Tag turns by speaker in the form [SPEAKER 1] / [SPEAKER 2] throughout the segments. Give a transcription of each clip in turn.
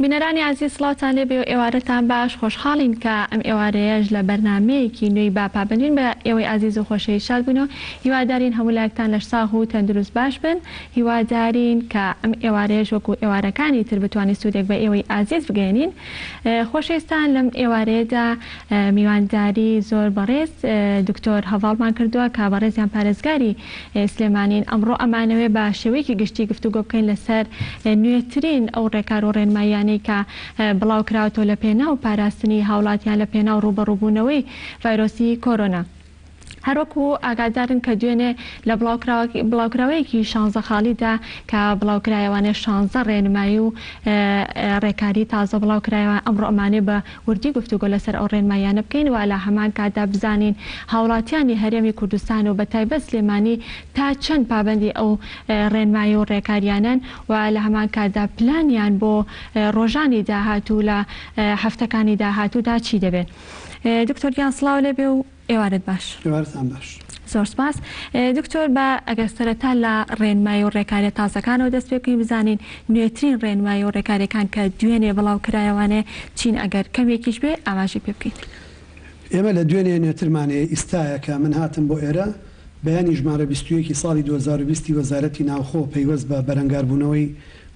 [SPEAKER 1] بینەرانی ئازیز سڵاوتان لێ بێ و ئێوارەتان باش خۆشحاڵین کە ئەم ئێوارەیەش لە بەرنمەیەکی نوێی با پابندین بە ئێوەی ئازیز و خۆشەویست شاد بوون و هیوادارین هەموو لایەکتان لەش ساغ و تەندروست باش بن هیوادارین کە ئەم ئێوارەیەش وەکو ئێوارەکانی تر بتوانین سوودێک بە ئێوەی ئازیز بگەیەنین خۆشەویستان لەم ئێوارەیەدا میوانداری زۆر بەڕێز دکتۆر هەڤاڵمان کردووە کە بەڕێزیان پارێزگاری سلێمانین ئەمڕۆ ئەمانەوێ بە شێوەیەکی گشتی گفتوگۆ بکەین لەسەر نوێترین ئەو ڕێکار و ڕێنماییانەی کە بڵاو کراوەتەوە لە پێناو پاراستنی هاوڵاتیان لە پێناو ڕووبەڕووبوونەوەی ڤایرۆسی کۆرۆنا. هەروەکو ئاگادارن کە دوێنێ لە بڵاوکراوەیەکی شانزە خاڵیدا کە بڵاوکرایەوانێ شانزە ڕێنمایی و ڕێکاری تازە بڵاوکرایەوە ئەمڕۆ ئەمانێ بە وردی گفتوگۆ لەسەر ئەو ڕێنماییانە بکەین و لە هەمان کاتدا بزانین هاوڵاتیانی هەرێمی کوردستان و بەتایبەت سلێمانی تا چەند پابەندی ئەو ڕێنمایی و ڕێکاریانەن و لە هەمان کاتدا پلانیان بۆ ڕۆژانی داهاتوو لە هەفتەکانی داهاتوودا چی دەبێت. دکتۆر گیان سڵاو لێبێ و ئێوارەت باش ئێوارەتان باش
[SPEAKER 2] زۆر سپاس
[SPEAKER 1] دکتۆر بە ئەگەر سەرەتا لە ڕێنمایی و ڕێکارە تازەکانەوە دەست پێ بکەین بزانین نوێترین ڕێنمایی و ڕێکارەکان کە دوێنێ بڵاو کرایەوانێ چین ئەگەر کەمێکیش بێ ئاماژەی پێ بکەیت ئێمە لە
[SPEAKER 2] دوێنێ نوێترمان هەیە ئیستایە کە من هاتم بۆ ئێرە بەیانی ژمارە بیست و یەک ی ساڵی دوو هەزار و بیست ی وەزارەتی ناوخۆ پەیوەست بە بەرەنگاربوونەوەی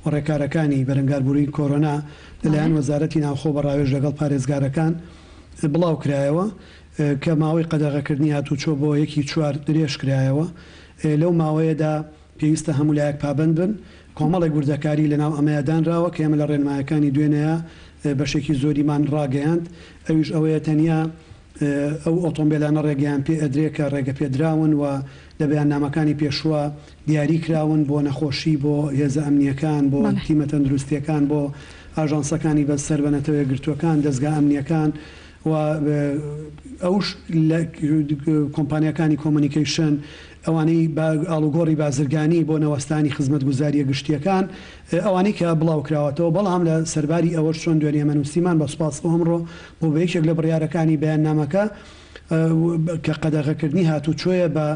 [SPEAKER 2] و ڕێکارەکانی بەرەنگاربوونی کۆرۆنا لەلایەن وەزارەتی ناوخۆ بە ڕاوێژ لەگەڵ پارێزگارەکان بڵاوکرایەوە کە ماوەی قەدەغەکردنی هاتووچۆ بۆ یەکی چوار درێژکرایەوە لەو ماوەیەدا پێویستە هەموو لایەک پابەند بن کۆمەڵێک وردەکاری لەناو ئەمەیا دانراوە کە ئێمە لە ڕێنمایەکانی دوێنێیا بەشێکی زۆریمان ڕاگەیاند ئەویش ئەوەیە تەنیا ئەو ئۆتۆمبێلانە ڕێگەیان پێ ئەدرێ کە ڕێگەپێدراون و لە بەیاننامەکانی پێشووە دیاری کراون بۆ نەخۆشی، بۆ هێزە ئەمنییەکان، بۆ بەڵێ. تیمە تەندروستییەکان، بۆ ئاژانسەکانی بە سەر بە نەتەوە یەکگرتووەکان، دەزگا ئەمنییەکان و ئەوش لە کۆمپانیاکانی کۆمۆنیکەیشن، ئەوانەی با ئاڵوگۆڕی بازرگانی بۆ نەوەستانی خزمەتگوزارییە گشتییەکان، ئەوانەی کە بڵاو کراوەتەوە، بەڵام لە سەرباری ئەوەش چۆن دوێنێ ئێمە نووسیمان بە سوپاس بۆ ئەمڕۆ بۆ بە یەکێک لە بڕیارەکانی بەیاننامەکە کە قەدەغەکردنی هاتووچۆیە بە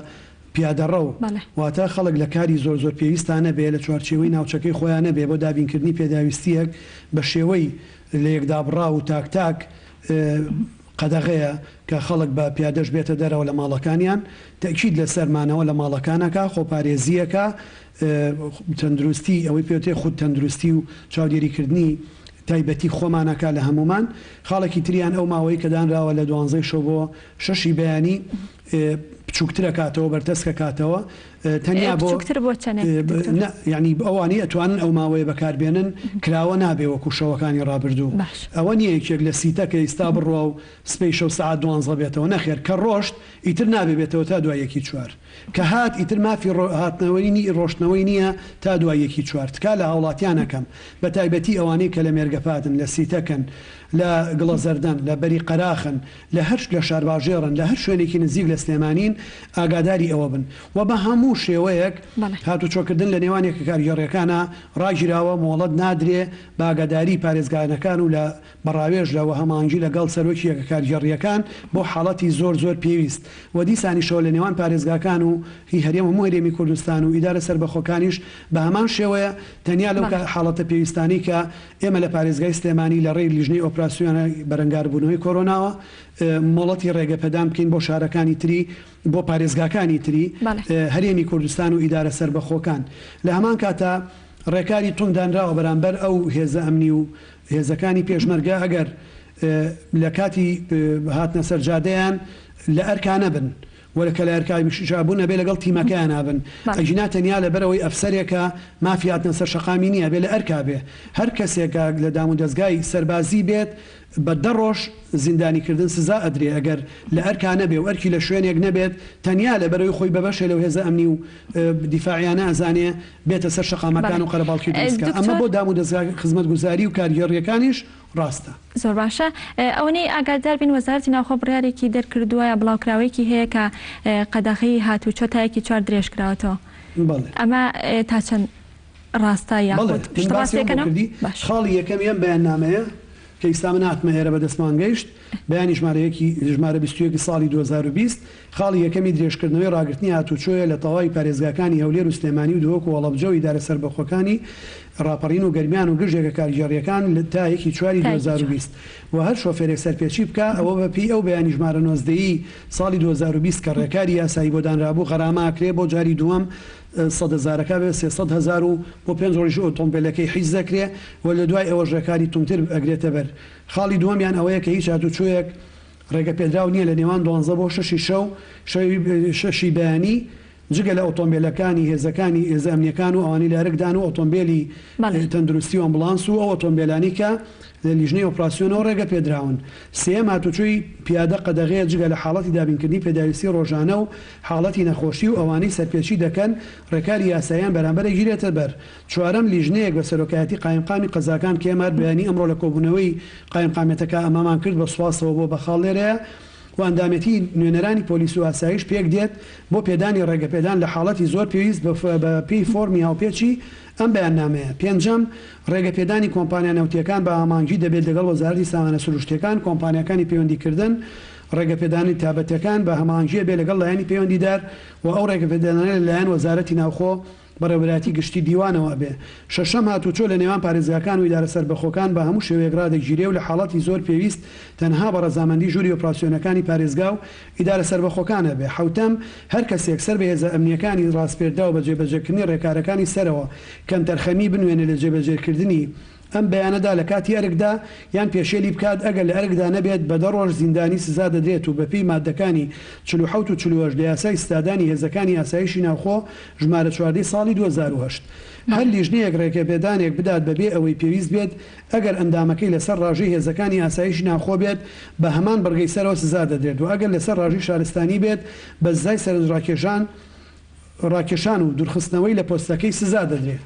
[SPEAKER 2] پیادەڕەو بەڵێ. واتە خەڵک لە کاری زۆر زۆر پێویستا نەبێ لە چوارچێوەی ناوچەکەی خۆیان نەبێ بۆ دابینکردنی پێداویستییەک بە شێوەی لەیەکدابڕاو و تاک تاک قەدەغەیە کە خەڵک بە پیادەش بێتە دەرەوە لە ماڵەکانیان تەئکید لەسەر مانەوە لە ماڵەکانەکا خۆپارێزییەکا تەندروستی، ئەوەی پێوترێ خود تەندروستی و چاودێریکردنی تایبەتی خۆمانەکە لە هەموومان، خاڵێکی تریان ئەو ماوەی کە دانراوە لە دوانزەی شەو بۆ شەشی بەیانی بچووکترەکاتەوە، بەرتەسکەکاتەوە، تەنیا بۆ. بچووکتر بۆ چەنێک دکتۆر؟ نا، یانی ئەوانەی ئەتوانن ئەو ماوەیە بەکاربێنن، کراوە نابێ وەکو شەوەکانی ڕابردوو، باش. ئەوە نییە یەکێک لە سیتە کە ئیستا بڕوا و سبەی شەو سەعات دوانزە بێتەوە، نەخێر کە ڕۆشت ئیتر نابێ بێتەوە تا دوای یەکی چوار. کە هات ئیتر مافی ڕۆ هاتنەوەی نی ڕۆشتنەوەی نیە تا دوای یەکی چوار تکا لە هاوڵاتیان ئەکەم بە تایبەتی ئەوانەی کە لە مێرگەپاتن لە سیتەکن لە گڵەزەردەن لە بەری قەراخن لە هەر لە شارباژێڕن لە هەر شوێنێکی نزیک لە سلێمانین ئاگاداری ئەوە بن و بە هەموو شێوەیەک بەڵێ. هاتوچۆ کردن لە نێوان یەکە کارگێڕیەکانا ڕاگیراوە مۆڵەت نادرێ بە ئاگاداری پارێزگانەکان و لە بە ڕاوێژ لە وە هەماهەنگی لە گەڵ سەرۆکی یەکە کارگێڕییەکان بۆ حاڵەتی زۆر زۆر پێویست وە دیسانیشەوە لە نێوان پارێزگاکان و هی هەرێم هەموو هەرێمی کوردستان و ئیدارە سەربەخۆکانیش بە هەمان شێوەیە تەنیا لەو بەڵێ. حاڵەتە پێویستانەی کە ئێمە لە پارێزگای سلێمانی لە ڕێی لیژنەی ئۆپراسیۆنە بەرەنگار بوونەوەی کۆرۆناوە مۆڵەتی ڕێگە پێدان بکەین بۆ شارەکانی تری بۆ پارێزگاکانی تری بەڵێ. هەرێمی کوردستان و ئیدارە سەربەخۆکان لە هەمان کاتا ڕێکاری توند دانراوە بەرامبەر ئەو هێزە ئەمنی و هێزەکانی پێشمەرگە ئەگەر لە کاتی هاتنە سەر جادەیان لە ئەرکا نەبن و لە کەلای ئەرکا بوون ئەبێ لەگەڵ تیمەکەیانا بن ئەگینا تەنیا لە بەرەوەی ئەفسەرێکە مافی هاتنە سەر شەقامی نیە ئەبێ لە ئەرکا بێ هەر کەسێکە لە دام و دەزگای سەربازی بێت بە دە ڕۆژ زیندانی کردن سزا ئەدرێ ئەگەر لە ئەرکا نەبێ و ئەرکی لە شوێنێک نەبێت تەنیا لە بەرەوەی خۆی بە بەشێ لەو هێزە ئەمنی و دیفاعیانە ئەزانێ بێتە سەر شەقامەکان و قەرەباڵخی دروست کا، ئەمە بۆ دام و دەزگا خزمەتگوزاری و کارگێڕییەکانیش ڕاستە. زۆر باشە.
[SPEAKER 1] ئەوەنەی ئاگادار بین وەزارەتی ناوخۆ بڕیارێکی دەرکردووە یا بڵاوکراوەیەکی هەیە کە قەدەغەی هاتووچۆ تا یەکی چوار درێژ کراوەتەوە. بەڵێ. ئەمە تا چەند ڕاستە یاخود بەڵێ. من باسی ئەوەم بۆ کردی
[SPEAKER 2] خاڵی یەکەمی ئەم بەیاننامەیە کە ئیستا من هاتمە ئێرە بە دەستمان گەیشت، بەیانی ژمارە یەکی ژمارە بیست و یەک ی ساڵی دوو هەزار و بیست، خاڵی یەکەمی درێژکردنەوەی ڕاگرتنی هاتووچۆیە لە تەواوی پارێزگاکانی هەولێر و سلێمانی و دهۆک و هەڵەبجە و ئیدارە سەربەخۆکانی ڕاپەڕین و گەرمیان و گرژێکە کارگێڕییەکان تا یەک ی چواری دوو هەزار و بیست و هەر شۆفێرێک سەرپێچی بکا ئەوە بە پێی ئەو بەیانی ژمارە نۆزدە ی ساڵی دوو هەزار و بیست کە ڕێکاری یاسایی بۆ دانرابوو غەرامە ئەکرێ بۆ جاری دووەم سەد هەزارەکە بێ سێ سەد هەزار و بۆ پێنج ڕۆژیش ئۆتۆمبێلەکەی حیز دەکرێ و لە دوای ئەوەش ڕێکاری توندتر ئەگرێتە بەر خاڵی دووەمیان ئەوەیە کە هیچ هاتووچۆیەک ڕێگەپێدراو نییە لە نێوان دوانزە بۆ شەشی شەو، شەوی بەیانی، جگە لە ئۆتۆمبێلەکانی هێزەکانی هێزە ئەمنییەکان و ئەوانەی لە ئەرکدان و ئۆتۆمبێلی تەندروستی و ئەمبوڵانس و ئەو ئۆتۆمبێلانەی کە لە لیژنەی ئۆپراسیۆنەوە ڕێگەپێدراون. سێیەم، هاتوچۆی پیادە قەدەغەیە جگە لە حاڵەتی دابینکردنی پێداویستی ڕۆژانە و حاڵەتی نەخۆشی و ئەوانەی سەرپێچی دەکەن ڕێکاری یاساییان بەرامبەر ئەگیرێتەبەر. چوارەم، لیژنەیەک بە سەرۆکایەتی قایمقامی قەزاکان کە ئێمە هەر بەیانی ئەمڕۆ لە کۆبوونەوەی قایمقامیەتەکە ئامامان کرد بە سوپاسەوە بۆ بەخاڵ لێرەیە و ئەندامێتی نوێنەرانی پۆلیس و ئاسایش پێکدێت بۆ پێدانی ڕێگەپێدان لە حاڵەتی زۆر پێویست بە پێی فۆرمی هاوپێچی ئەم بەیاننامەیە. پێنجەم، ڕێگەپێدانی کۆمپانیا نەوتییەکان بە ئامانجی دەبێت لەگەڵ وەزارەتی سامانە سروشتییەکان کۆمپانیاکانی پەیوەندیکردن ڕێگەپێدانی تابەتەکان بە هەماهەنگییە بێت لەگەڵ لایەنی پەیوەندیدار و ئەو ڕێگەپێدانانە لەلایەن وەزارەتی ناوخۆ بەڕێوەبەرایەتی گشتی دیوانەوە بێ. شەشەم، هاتووچۆ لە نێوان پارێزگاکان و ئیدارە سەربەخۆکان بە هەموو شێوەیەک ڕادەگیرێ و لە حاڵەتی زۆر پێویست تەنها بە ڕەزامەندی ژووری ئۆپراسیۆنەکانی پارێزگا و ئیدارە سەربەخۆکان ئەبێ. حەوتەم، هەر کەسێک سەر بە هێزە ئەمنییەکانی ڕاسپێردراو بە جێبەجێکردنی ڕێکارەکانی سەرەوە کەمتەرخەمی بنوێنێ لە جێبەجێکردنی ئەم بەیانەدا لە کاتی ئەرکدا یان پێشێلی بکات، ئەگەر لە ئەرکدا نەبێت بە دە ڕۆژ زیندانی سزا دەدرێت و بەپێی ماددەکانی چل و حەوت و چل و هەشت لە یاسای ستادانی هێزەکانی ئاسایشی ناوخۆ ژمارە چواردە ی ساڵی دوو هەزار و هەشت هەر لیژنەیەک ڕێگەپێدانێک بدات بەبێ ئەوەی پێویست بێت ئەگەر ئەندامەکەی لەسەر ڕاژەی هێزەکانی ئاسایشی ناوخۆ بێت بە هەمان بڕگەی سەرەوە سزا دەدرێت وە ئەگەر لەسەر ڕاژەی شارستانی بێت بە سزای سەرنجڕاکێشان ڕاکێشان و دورخستنەوەی لە پۆستەکەی سزا دەدرێ.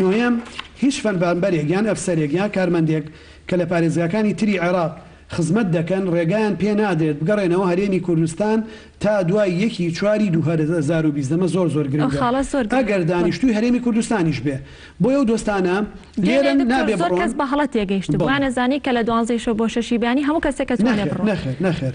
[SPEAKER 2] نۆیەم، هیچ فەرمانبەرێک یان ئەفسەرێک یا کارمەندێک کە لە پارێزگاکانی تری عێراق خزمەت دەکەن ڕێگایان پێ نادرێت بگەڕێنەوە هەرێمی کوردستان تا دوای یەکی ی چواری دوو هەزار و بیست، ئەمە زۆر زۆر گرنگە ئەگەر دانیشتووی هەرێمی کوردستانیش بێ. بۆیە ئەو دۆستانە لێرەن نابێ بڕۆن. دوێنێ دکتۆر زۆر کەس بە هەڵە
[SPEAKER 1] تێگەیشتبوو، وایان زانی کە لە دوانزەی شەو بۆ شەشی بەیانی هەموو کەسێک ئەتوانێ بڕۆ. نەخێر، نەخێر، نەخێر.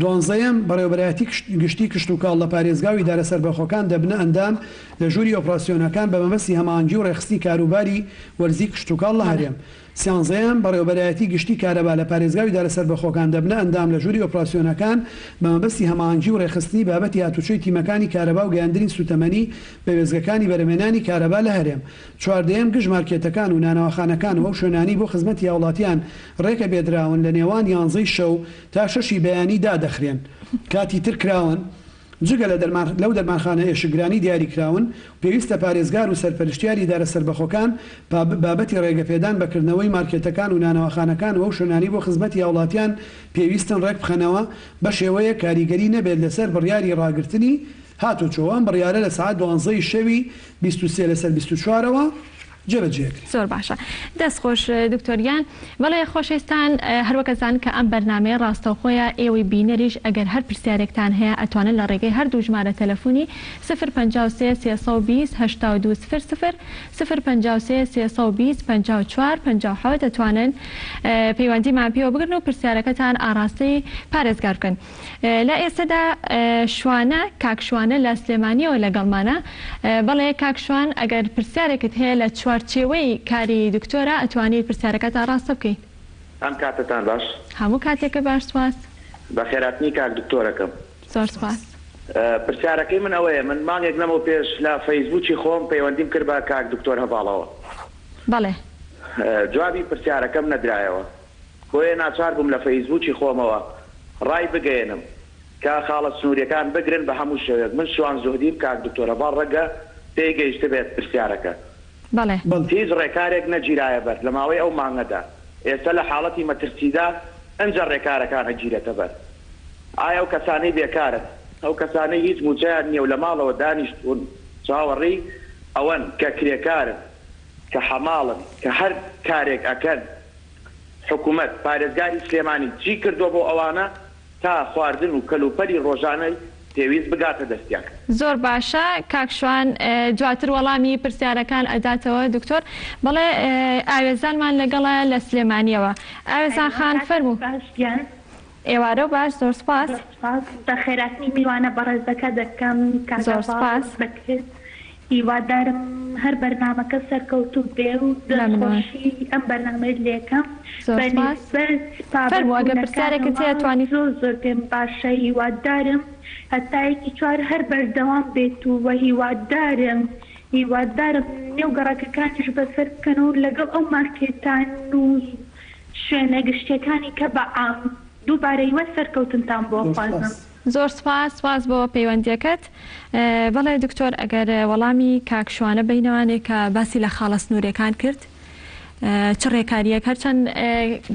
[SPEAKER 2] دوانزەیەم، بەڕێوەبەرایەتی گشتی کشتوکاڵ لە پارێزگا و ئیدارە سەربەخۆکان دەبنە ئەندام لە ژووری ئۆپراسیۆنەکان بە مەبەستی هەماهەنگی و ڕێکخستنی کاروباری وەرزی کشتوکاڵ لە هەرێم. سیانزەیەم، بەڕێوەبەرایەتی گشتی کارەبا لە پارێزگا و ئیدارە سەربەخۆکان دەبنە ئەندام لە ژووری ئۆپراسیۆنەکان بە مەبەستی هەماهەنگی و ڕێکخستنی بابەتی هاتوچۆی تیمەکانی کارەبا و گەیاندنی سوتەمەنی بە وێستگەکانی بەرهەمێنانی کارەبا لە هەرێم. چواردەیەم، گشت مارکێتەکان و نانەواخانەکان و ئەو شوێنانەی بۆ خزمەتی هاوڵاتیان ڕێکە بێدراون لە نێوان یانزەی شەو تا شەشی بەیانی دادەخرێن کاتی تر کراوەن جگە لە دەرمان لەو دەرمانخانە ئێشکگرانی دیاری کراون و پێویستە پارێزگار و سەرپەرشتیاری ئیدارە سەربەخۆکان پا بابەتی ڕێگە پێدان بە کردنەوەی مارکێتەکان و نانەواخانەکان وەو شوێنانەی بۆ خزمەتی هاوڵاتیان پێویستن ڕێک بخەنەوە بە شێوەیەک کاریگەری نەبێت لەسەر بڕیاری ڕاگرتنی هاتوچۆ و ئەم بڕیارە لە سەعات دوانزەی شەوی بیست و سێ لەسەر بیست و چوارەوە جێبە جێ ئەکرێ.
[SPEAKER 1] زۆر باشە دەست خۆش دکتۆر گیان. بەڵێ خۆشەیستان هەروەک ئەزان کە ئەم بەرنامەیە ڕاستەوخۆیە ئێوەی بینەریش ئەگەر هەر پرسیارێکتان هەیە ئەتوانن لە ڕێگەی هەردوو ژمارە تەلەفونی سفر پەنجا و سێ سێ سەد و بیست هەشتا و دوو سفر سفر، سفر پەنجا و سێ سێ سەد و بیست پەنجا و چوار پەنجا و حەوت ئەتوانن پەیوەندیمان پێوە بگرن و پرسیارەکەتان ئاڕاستەی پارێزگار بکەن. لە ئێستەدا شوانە کاک شوانە لە سلێمانیەوە لەگەڵمانە بەڵێ کاک شوان ئەگەر پرسیارێکت هەیە لە چوارچێوەی کاری دکتۆرا ئەتوانی پرسیارەکەت ئاڕاستە بکەی. هەم کاتتان
[SPEAKER 3] باش. هەموو کاتێکە باش
[SPEAKER 1] سپاس. بەخێراتنی
[SPEAKER 3] کاک دکتۆرەکەم. زۆر سپاس.
[SPEAKER 1] پرسیارەکەی
[SPEAKER 3] من ئەوەیە من مانگێک لەمەو پێش لە فەیسبوکی خۆم پەیوەندیم کرد بە کاک دکتۆر هەڤاڵەوە. بەڵێ. جوابی پرسیارەکەم نەدرایەوە. بۆیە ناچار بووم لە فەیسبووکی خۆمەوە ڕای بگەیەنم کە خاڵە سنووریەکان بگرن بە هەموو شێوەیەک من شوان زوهدیم کاک دکتۆر هەڤاڵ ڕەنگە پێی گەیشتبێت پرسیارەکە. بەڵێ. هیچ ڕێکارێک نەگیرایە بەر لە ماوەی ئەو مانگەدا ئێستا لە حاڵەتی مەترسیدا ئنجە ڕێکارەکان ئەگیرێتە بەر ئایا ئەو کەسانەی بێکارن ئەو کەسانەی هیچ مووچەیان نیە و لە ماڵەوە دانیشتوون چاوەڕێی ئەوەن کە کرێکارن کە حەماڵن کە هەر کارێک ئەکەن حکومەت، پارێزگاری سلێمانی چی کردووە بۆ ئەوانە تا خواردن و کەلوپەلی ڕۆژانەی پێویست بگاتە دەستیان؟ زۆر باشە
[SPEAKER 1] کاک شوان دواتر وەڵامی پرسیارەکان ئەداتەوە دکتۆر. بەڵێ ئاوێزانمان لەگەڵە لە سلێمانیەوە. ئاوێزان خان فەرموو. ئێوارۆ باش زۆر سوپاس. زۆر سوپاس بەخێراتنی
[SPEAKER 4] میوانە بەڕێزەکە دەکەم کاک ئەڤاڵ
[SPEAKER 1] بەکر
[SPEAKER 4] هیوادارم هەر بەرنامەکە سەرکەوتوو بێ و دەست خۆشی ئەم بەرنامەیت لێکەم بە نیسبەت
[SPEAKER 1] پابەندبوونەکانەوە زۆر زۆر پێم باشە
[SPEAKER 4] هیوادارم هەتا یەکی چوار هەر بەردەوام بێت و وە هیوادارم هیوادارم نێو گەڕەکەکانیش بەسەر بکەنەوە لەگەڵ ئەو مارکێتان و شوێنە گشتیەکانی کە بە عام دووبارەیوە سەرکەوتنتان بۆ ئەخوازم. زۆر
[SPEAKER 1] سوپاس سوپاس بۆ پەیوەندیەکەت بەڵێ دکتۆر ئەگەر وەڵامی کاک شوانە بەینەوانێ کە باسی لە خاڵە سنورێکان کرد چ ڕێکاریەک هەرچەن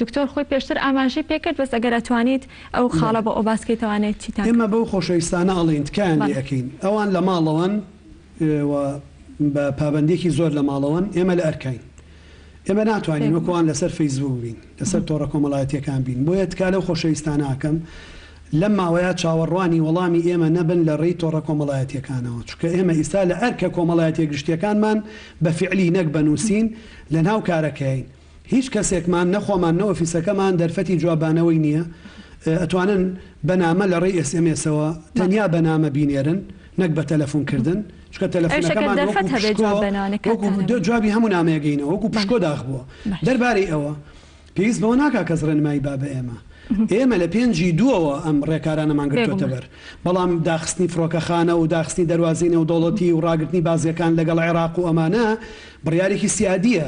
[SPEAKER 1] دکتۆر خۆی پێشتر ئاماژەی پێ کرد بەس ئەگەر ئەتوانیت ئەو خاڵە بۆ ئەوباس کەیتەوانێ چیتان کرد. ئێمە بەو خۆشەویستانە
[SPEAKER 2] ئەڵێین تکایان لێ ئەکەین ئەوان لە ماڵەوەن و بە پابەندیەکی زۆر لە ماڵەوەن ئێمە لە ئەرکاین. ئێمە ناتوانین وەک ئەوان لەسەر فەیسبووک بین، لەسەر تۆڕە کۆمەڵایەتییەکان بین، بۆیە تکا لەو خۆشەویستانە ئەکەم لەم ماوەیە چاوەڕوانی وەڵامی ئێمە نەبن لە ڕێی تۆڕە کۆمەڵایەتییەکانەوە، چونکە ئێمە ئیستا لە ئەرکە کۆمەڵایەتییە گشتییەکانمان بە فیعلی نەک بە نووسین لەناو کارەکەین، هیچ کەسێکمان نە خۆمان نە ئۆفیسەکەمان دەرفەتی جوابانەوەی نییە، ئەتوانن بە نامە لە ڕێی ئێس ئێم ئێسەوە تەنیا بە نامە بینێرن نەک بە تەلەفونکردن. چونکە تەلەفونەکەمان وەکو پشکۆ وەکو جوابی هەموو نامەیەک گەینەوە وەکو پشکۆ داخ بووە دەر بارەی ئەوە پێویست بەوە ناکا کەس ڕێنمایی با بە ئێمە ئێمە لە پێنجی دووەوە ئەم ڕێکارانەمان گرتووەتە بەر بەڵام داخستنی فڕۆکەخانە و داخستنی دەروازەی نێودەوڵەتی و ڕاگرتنی بازیەکان لەگەڵ عێراق و ئەمانە بڕیارێکی سیادیە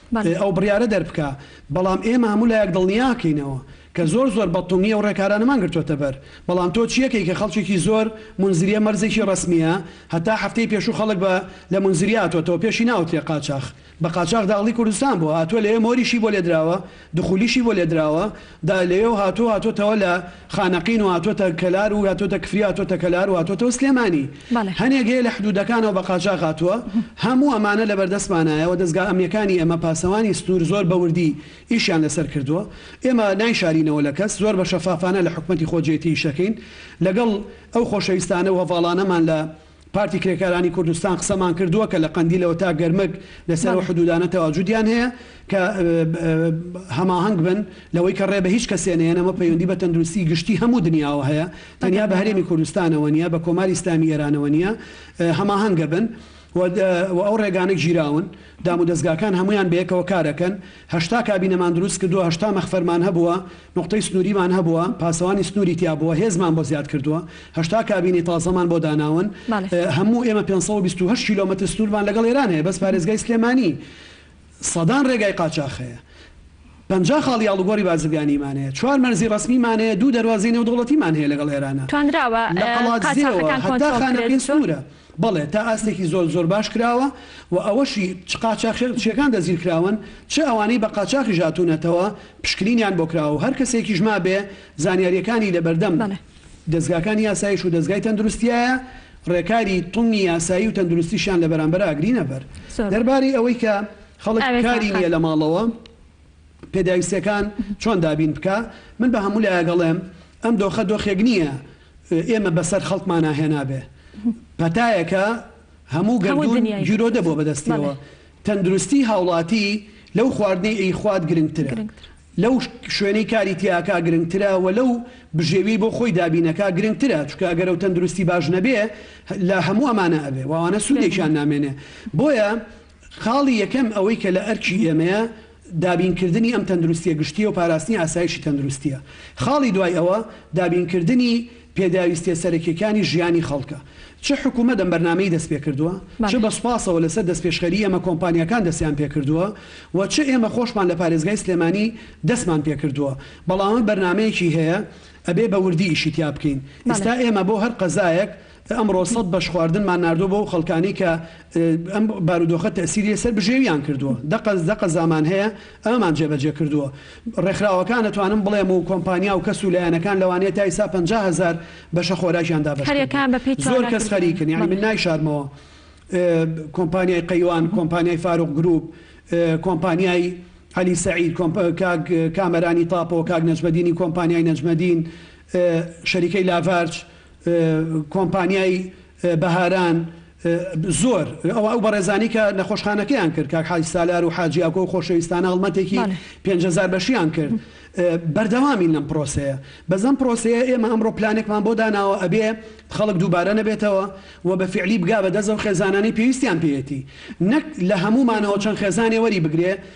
[SPEAKER 2] ئەو بڕیارە دەربکا، بەڵام ئێمە هەموو لایەک دڵنیاکەینەوە کە زۆر زۆر بەتوندی ئەو رێکارانەمان گرتۆتە بەر، بەڵام تۆ چیەکەی کە خەڵکێکی زۆر مونزریە مەرزێکی رەسمیە، هەتا هەفتەی پێشوو خەڵک بە لە مونزری هاتۆتەوە پێشی ناوترێ قاچاخ، بە قاچاخ داغڵی کوردستان بۆ هاتوە لەوێ مۆریشی بۆ لێدراوە، دخولیشی بۆ لێدراوە، دا لەوێ و هاتووە هاتۆتەوە لە خانەقین و هاتۆتە کەلار و هاتۆتە کفری و هاتۆتە کەلار و هاتۆتەوە سلێمانی بەڵێ. هەنێک هەیە لە حدوودەکانەوە بە قاچاخ هاتووە هەموو ئەمانە لەبەر دەستمانایە و دەزگا ئەمنیەکانی ئێمە پاسەوانی سنوور زۆر بە وردی ئیشیان لەسەر کردووە ئێمە نایشارینەوە لە کەس زۆر بە شەفافانە لە حکومەتی خۆجێیەتی ئیش ئەکەین لەگەڵ ئەو خۆشەویستانە و هەڤاڵانەمان لە پارتی کرێکارانی کوردستان قسەمان کردووە کە لە قەندیلەوە تا گەرمەک لەسەر ئەو حدوودانە تەواجودیان هەیە کە هەماهەنگ بن لەوەی کە ڕێ بە هیچ کەسێ نەیەن، ئەمە پەیوەندی بە تەندروستی گشتی هەموو دنیاوە هەیە، تەنیا بە هەرێمی کوردستانەوە نییە، بە کۆماری ئیسلامی ئێرانەوە نییە، هەماهەنگە بن و ئەو ڕێگانە گیراون، دامودەزگاکان هەموویان بەیەکەوە کارەکەن، هەشتا کابینەمان دروست کردووە، هەشتا مەخفەرمان هەبووە، نوقتەی سنووریمان هەبووە، پاسەوانی سنووری تیا بووە، هێزمان بۆ زیاد کردووە، هەشتا کابینەی تازەمان بۆ داناون، هەموو ئێمە پێنج سەد و بیست و هەشت کیلۆمەتر سنوورمان لەگەڵ ئێران هەیە، بەس پارێزگای سلێمانی سەدان رێگای قاچاخ هەیە، پەنجا خاڵی ئاڵوگۆڕی بازرگانیمان هەیە، چوار مەرزی رەسمیمان هەیە، دوو دەروازەی نێودەوڵەتیمان هەیە لەگەڵ ئێران، لە
[SPEAKER 1] قەڵادزێوە
[SPEAKER 2] هەتا خانەقین سنوورە. بەڵێ تا ئاستێکی زۆر زۆر باش کراوە و ئەوەشی چ قاچاخچییەکان دەستگیرکراون، چ ئەوانەی بە قاچاخیش هاتوونەتەوە، پشکنینیان بۆ کراوە و هەر کەسێکیش مابێ زانیارییەکانی لە بەردەم دەزگاکانی یاسایش و دەزگای تەندروستیایە ڕێکاری توندی یاسایی و تەندروستیشیان لە بەرامبەر ئاگرینە بەر. دەربارەی ئەوەی کە خەڵک کاری نییە لە ماڵەوە پێداویستییەکان چۆن دابین بکا، من بە هەموو لایەک ئەڵێم ئەم دۆخە دۆخێک نییە ئێمە بەسەر خەڵکمانا هێنابێ، پەتایەکە هەموو گەردوون گیرۆدە بووە بە دەستیەوە. تەندروستی هاوڵاتی لەو خواردنەی ئەیخوات گرنگترە، لەو شوێنەی کاری تیاکا گرنگترە و لەو بژێویەی بۆ خۆی دابینەکا گرنگترە، چونکە ئەگەرو تەندروستی باش نەبێ لە هەموو ئەمانە ئەبێ و ئەوانە سودێکیان نامێنێ، بۆیە خاڵی یەکەم ئەوەی کە لە ئەرکی ئێمەیە دابین کردنی ئەم تەندروستیە گشتیە و پاراستنی ئاسایشی تەندروستیە، خاڵی دوای ئەوە دابین کردنی پێداویستیە سەرەکیەکانی ژیانی خەڵکە. چ حکومەت ئەم بەرنامەی دەست پێ کردوە، چ بە سوپاسەوە لەسەر دەستپێشخەری ئێمە کۆمپانیاکان دەستیان پێ کردوە و چ ئێمە خۆشمان لە پارێزگای سلێمانی دەستمان پێ کردوە. بەڵام ئەمە بەرنامەیەکی هەیە ئەبێ بە وردی ئیشی تیا بکەین. ئیستا ئێمە بۆ هەر قەزایەک ئەمڕۆ سەد بەش خواردنمان ناردوە بۆ ئەو خەڵکانەی کە ئەم بارودۆخە تەئسیری لەسەر بژێویان کردوە. دە قەزامان هەیە ئەمەمان جێبەجێ کردوە. ڕێکخراوەکان ئەتوانم بڵێم و کۆمپانیا و کەس و لایەنەکان لەوانەیە تا ئیستا پەنجا هەزار بەشە خۆراکیان دابەش کردوە زۆر کەس خەریکن یانی من نایشارمەوە کۆمپانیای قەیوان کۆمپانیای فاروق گروپ کۆمپانیای عەلی سەعید کۆمپ کاک کامەرانی تاپۆ کاک نەجمەدینی کۆمپانیای نەجمەدین شەریکەی لاڤارچ کۆمپانیای بەهاران، زۆر. ئەو بەڕێزانەی کە نەخۆشخانەکەیان کرد، کاک حاج سالار و حاجی ئاکۆ و خۆشەویستانە هەڵمەتێکی پێنج هەزار بەشیان کرد. بەردەوامین لەم پرۆسەیە. بەس لەم پرۆسەیە ئێمە ئەمڕۆ پلانێکمان بۆ داناوە، ئەبێ خەڵک دووبارە نەبێتەوە و بە فیعلی بگا بە دەست ئەو خێزانانەی پێویستیان پێیەتی. نەک لە هەموومانەوە چەند خێزانێ وەریبگرێ،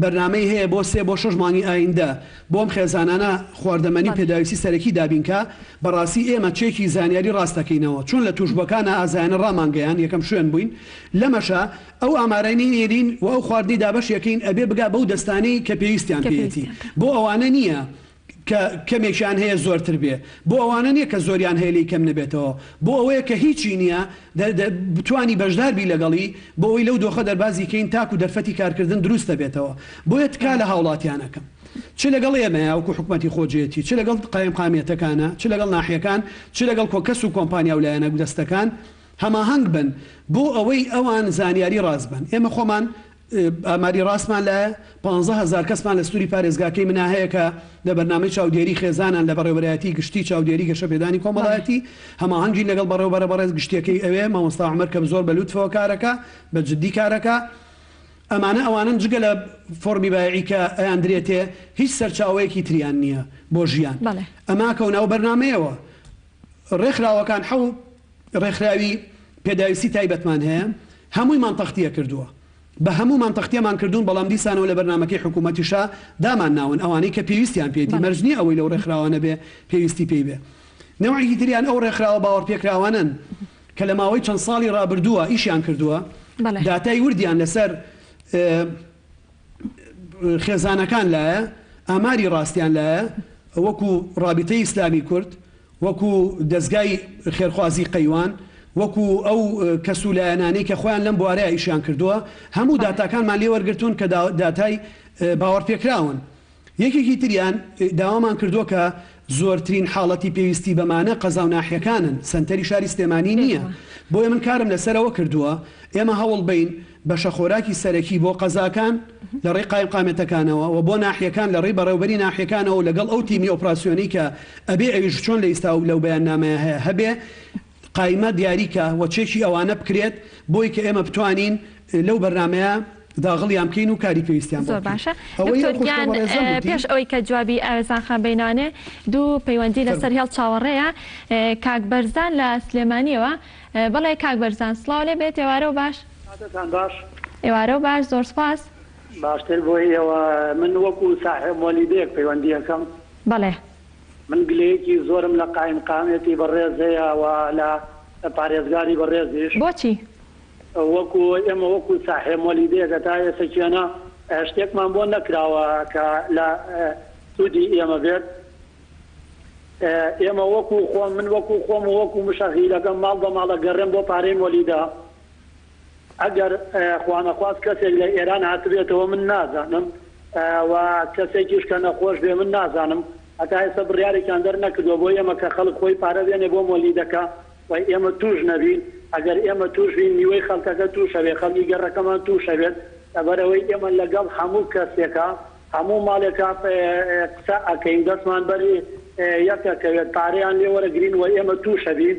[SPEAKER 2] بەرنامەی هەیە بۆ سێ بۆ شەش مانگی ئایندە بۆ ئەم خێزانانە خواردەمەنی و پێداویستی سەرەکی دابینکە، بەڕاستی ئێمە چێکی زانیاری ڕاست دەکەینەوە چون لە توشبوەکان ئە ئازایانە ڕامانگەیاند یەکەم شوێن بوین لەمەشا ئەو ئامارەی نینێرین وە ئەو خواردنەی دابەشیەکەین ئەبێ بگا بەو دەستانەی کە پێویستیان پێیەتی بۆ ئەوانە نیە کە کەمێکیان هەیە زۆرتر بێ بۆ ئەوانە نیە کە زۆریان هەیە لێی کەم نەبێتەوە بۆ ئەوەیە کە هیچی نیە دە دە بتوانی بەشدار بی لەگەڵی بۆ ئەوەی لەو دۆخە دەربازی کەین تاکو دەرفەتی کارکردن دروست دەبێتەوە بۆیە تکا لە هاوڵاتیانەکەم چ لەگەڵ ئێمەیە وەکو حکومەتی خۆجێیەتی چ لەگەڵ قایمقامیەتەکانە چ لەگەڵ ناحیەکان چ لەگەڵ کۆ کەس و کۆمپانیا و لایەنە دەستەکان هەماهەنگ بن بۆ ئەوەی ئەوان زانیاری ڕاست بەن ئێمە خۆمان ئاماری ڕاستمان لایە، پانزە هەزار کەسمان لە سنووری پارێزگاکەی منا هەیە کە لە بەرنامەی چاودێری خێزانان لە بەڕێوەبەرایەتیی گشتیی چاودێری گەشەپێدانی کۆمەڵایەتی، هەماهەنگین لەگەڵ بەڕێوەبەرە بەڕێز گشتییەکەی ئەوێ، مامۆستا عومەر کە زۆر بە لوتفەوە کارەکا، بە جددی کارەکا. ئەمانە ئەوانەن جگە لە فۆڕمی بایەعی کە ئەیاندرێتێ، هیچ سەرچاوەیەکی تریان نییە بۆ ژیان. بەڵێ. ئەمە کەونە ئەو بەرنامەیەوە. ڕێکخراوەکان حەو ڕێکخراوی پێداویستی تایبەتمان هەیە هەموویمان تەختیە کردووە بە هەموومان تەختیەمان کردوون بەڵام دیسانەوە لە بەرنامەکەی حکوومەتیشا دامان ناون ئەوانەی کە پێویستیان پێیەتی بەڵێ. مەرج نییە ئەوەی لەو ڕێکخراوە نەبێ پێویستی پێی بێ نەوعێکی تریان ئەو ڕێکخراوە باوەڕپێکراوانەن کە لە ماوەی چەند ساڵی ڕابردووە ئیشیان کردووە بەڵێ. داتای وردیان لەسەر خێزانەکان لایە، ئاماری ڕاستیان لایە، وەکو ڕابیتەی ئیسلامی کورد، وەکو دەزگای خێرخوازی قەیوان، وەکو ئەو کەس و لایەنانەی کە خۆیان لەم بوارەیا ئیشیان کردووە، هەموو داتاکانمان لێ وەرگرتوون کە داتای باوەڕپێکراون. یەکێکی تریان داوامان کردووە کە زۆرترین حاڵەتی پێویستی بەمانە قەزا و ناحیەکانن، سەنتەری شاری سلێمانی نییە، بۆیە من کارم لەسەرەوە کردووە ئێمە هەوڵبەین بەشە خۆراکی سەرەکی بۆ قەزاکان لەڕێی قایمقامێتەکانەوە و بۆ ناحیەکان لەڕێی بەڕێوبەری ناحیەکانەوە و لەگەڵ ئەو تیمی ئۆپراسیۆنی کە ئەبێ ئەویش چۆن لە ئیستا و لەو بەیاننامەیە هەیە هەبێ قایمە دیاری کە وە چێکی ئەوانە بکرێت بۆی کە ئێمە بتوانین لەو بەرنامەیە دا غڵیان بکەین و کاری پێویستیان بۆ بکەین. زۆر باشە دکتۆر
[SPEAKER 1] گیان پێش ئەوەی کە جوابی ئارزان خان بەینانێ دوو پەیوەندی لە سەر هێڵ چاوەڕێیە کاک بەرزان لە سلێمانیەوە بەڵێ کاک بەرزان سڵاو لێ بێت ئێوارە و باش. ئێوارەتان باش. ئێوارە و باش زۆر سپاس. باشتر بۆ ئێوە من
[SPEAKER 5] وەکو ساحێب مۆلیدەیەک پەیوەندیەکەم. بەڵێ.
[SPEAKER 1] من
[SPEAKER 5] گلەیەکی زۆرم لە قایمقامێتی بەڕێز هەیە و لە پارێزگاری بەڕێزیش. بۆچی؟
[SPEAKER 1] وەکو
[SPEAKER 5] ئێمە وەکو ساحێ مۆلیدەیەک هەتا ئێسە کێنە شتێکمان بۆ نەکراوە کە لە سودی ئێمە بێت. ئێمە وەکو خۆم من وەکو خۆم و وەکو مشەغیلەکەم ماڵ بە ماڵە گەڕێم بۆ پارەی مۆلیدە. ئەگەر خوانەخواست کەسێک لە ئێران هاتبێتەوە من نازانم و کەسێکیش کە نەخۆش بێ من نازانم هەتا ئێستا بڕیارێکیان دەرنەکردوە بۆ ئێمە کە خەڵک خۆی پارە بێنێ بۆ مۆلیدەکە و ئێمە توش نەبین ئەگەر ئێمە توش بین نیوەی خەڵکەکە توشەبێ خەڵکی گەڕەکەمان توشەبێت لەبەرئەوەی ئێمە لەگەڵ هەموو کەسێکا هەموو ماڵێکا قسە ئەکەین دەستمان بەر یەک ئەکەوێت پارەیان لێ وەرەگرین و ئێمە توشەبین.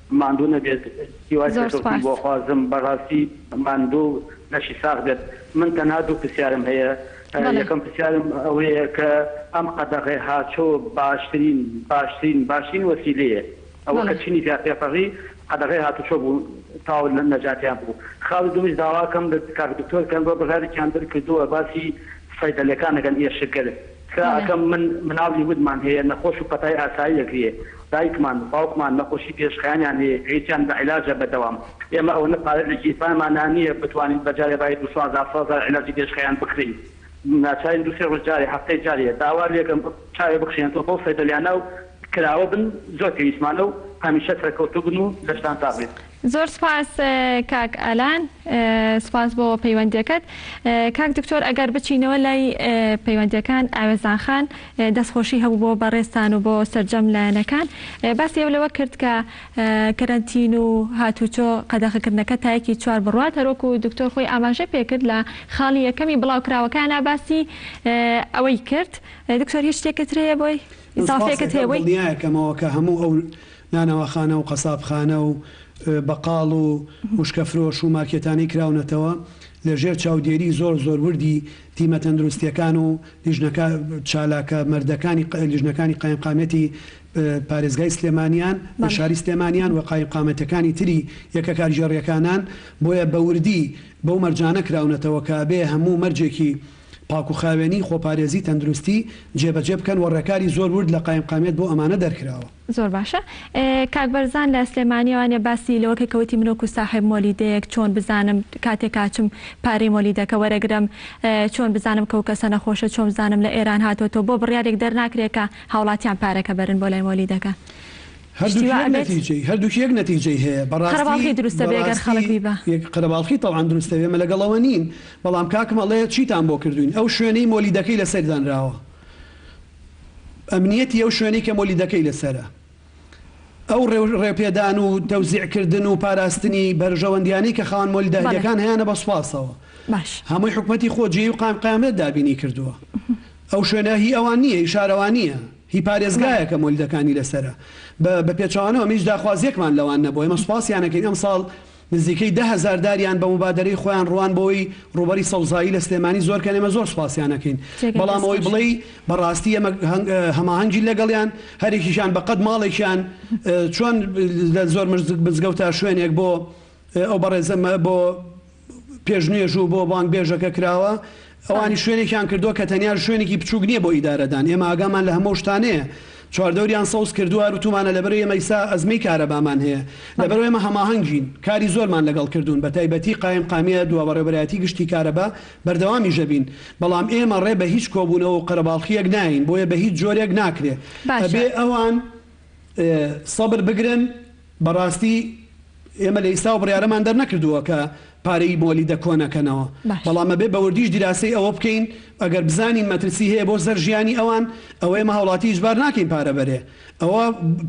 [SPEAKER 5] ماندوو نەبێت هیوای زۆر سەرکەوتنی سوپاس. بۆخوازم بەڕاستی ماندوو و لەشی ساغ بێت من تەنها دوو پرسیارم هەیە بەڵێ. یەکەم پرسیارم ئەوەیە کە ئەم قەدەغەی هاچۆ باشترین باشترین باشترین وەسیلەیە ئەوە کە بەڵێ. چینی پیا تێپەڕی قەدەغەی هاتوچۆ بوو تاو لە نەجاتیان بوو خاڵی دومیش داواکەم لە کاک دکتۆر کە ئەمڕۆ بڕیارێکیان درکردووە باسی سەیدەلێکان ئەکەن ئێشکگر. کرا ئەکەم من مناڵ لیوتمان هەیە نەخۆش و پەتای ئاسایی دەگریێ دایکمان باوکمان نەخۆشی گێژ خەیانیان هەیە پێویستیان بە علاجە بەدەوام ئێمە ئەوەنە پارە لە گیرفانمانا نیە بتوانین بە جارێ بای دوو سازار سازار علاجی گێژ خەیان بکرین ناچارین دوو سێ ڕۆژ جارێ هەفتەی جارێ داوا لێکەم چاوێ بخشێنێتەوە بەو سەیدەلیانە و کراوە بن زۆر پێویستمانە و هەمیشە سەرکەوتوو بن و لەشتان ساغ بێت. زۆر سوپاس
[SPEAKER 1] کاک ئالان سوپاس بۆ پەیوەندیەکەت کاک دکتۆر ئەگەر بچینەوە لای پەیوەندیەکان ئاوێزان خان دەست خۆشی هەبوو بۆ بەڕێزتان و بۆ سەرجەم لایەنەکان باسی ئەو لەوە کرد کە کەرەنتین و هاتوچۆ قەدەخەکردنەکە تایەکی چوار بڕوات هەروەکو دکتۆر خۆی ئاماژەی پێکرد لە خاڵی یەکەمی بڵاوکراوەکانە باسی ئەوەی کرد دکتۆر هیچ شتێکت هەیە بۆی زافێکت هەیە بۆی؟ دڵنیایەکەمەوە کە هەموو ئەو
[SPEAKER 2] نانەواخانە و قەسابخانە و بەقاڵ و وشکەفرۆش و مارکێتانەی کراونەتەوە لە ژێر چاودێری زۆر زۆر وردی تیمە تەندروستیەکان و لیژنەکە چالاکە مەردەکانی لیژنەکانی قایمقامیەتی پارێزگای سلێمانیان و شاری سلێمانیان و قایمقامەتەکانی تری یەکە کارگێڕیەکانان بۆیە بە وردی بەو مەرجانە کراونەتەوە کە ئەبێ هەموو مەرجێکی پاک و خاوێنی خۆپارێزی تەندروستی جێبەجێ بکەن و ڕێکاری زۆر ورد لە قایمقامیەت بۆ ئەمانە دەرکراوە. زۆر باشە
[SPEAKER 1] کاک بەرزان لە سلێمانی وانە باسی لەوەکە کەوتی منۆکو ساحێب مۆلیدەیەک چۆن بزانم کاتێکاچم پارەی مۆلیدەکە وەرەگرم چۆن بزانم کەو کەسە نەخۆشە چۆن بزانم لە ئێران هاتۆتۆ بۆ بڕیارێک دەرناکرێ کە هاوڵاتیان پارەکە بەرن بۆ لای مۆلیدەکە هەردووکی یەک نەتیجەی
[SPEAKER 2] هەردووکی یەک نەتیجەی هەیە بەڕاستی دروستە
[SPEAKER 1] بێگەر خەڵک بیبا یەک قەرەباڵخی تەوان
[SPEAKER 2] دروستە بێمە لەگەڵەوە نین بەڵام کاکمەڵێ چیتان بۆ کردوین ئەو شوێنەی مۆلیدەکەی لەسەر دانراوە ئەمنیەتی ئەو شوێنەی کە مۆلیدەکەی لەسەرە. ئەو ڕێوڕێپێدان و تەوزیع کردن و پاراستنی بەرژەوەندیانەی کە خاوەن مۆلیدە بەڵێ. هەریەکان هەیانە بە سوپاسەوە. باش. هەمووی حکومەتی خۆجێی و قائمقامیەت دابینی کردووە. ئەو شوێنە هی ئەوان نییە، هی شارەوانییە، هی بەڵێ. پارێزگایە کە مۆلیدەکانی لەسەرە. بە بە پێچەوانەوە ئەمە هیچ داخوازییەکمان لەوان نەبووە. ئێمە سوپاسیان ئەکەین ئەمساڵ نزیکەی دە هەزار داریان بە موبادەرەی خۆیان ڕوان بۆی ڕوبەری سەوزایی لە سلێمانی زۆر کەن ئێمە زۆر سوپاسیان ئەکەین جێگای بەڵام ئەوەی دەستخۆشی. بڵێی بەڕاستی ئێمە هەنگ هەماهەنگین لەگەڵیان هەریەکیشیان بە قەد ماڵێکیان چۆن لە زۆر مز مزگەوتە شوێنێک بۆ ئەو بەڕێزە مە بۆ پێش نوێژ و بۆ بانگبێژەکە کراوە ئەوانیش شوێنێکیان کردووە کە تەنیا شوێنێکی بچووک نییە بۆ ئیدارەدان، ئێمە ئاگامان لە هەموو ئەو شتانەیە، چواردەوریان سەوز کردووە، رووتومانە لەبەر ئێمە ئیستا ئەزمەی کارەبامان هەیە، لەبەرئەوە ئێمە هەماهەنگین، کاری زۆرمان لەگەڵ کردوون، بەتایبەتی قایمقامیەت و بەڕێوەبەرایەتی گشتی کارەبا بەردەوامیش دەبین، بەڵام ئێمە رێ بە هیچ کۆبوونەوە و قەرەباڵخییەک نایەین، بۆیە بە هیچ جۆرێک ناکرێ، ئەبێ ئەوان سەبر بگرن. بەڕاستی ئێمە لە ئیستاوە بڕیارەمان دەرنەکردووە کە پارەی مۆلیدە کۆنەکەنەوە، باش. بەڵام ئەبێ بەوردیش دیراسەی ئەوە بکەین ئەگەر بزانین مەترسی هەیە بۆ سەر ژیانی ئەوان ئەوە ئێمە هاوڵاتی ئیجبار ناکەین پارە بەرێ ئەوە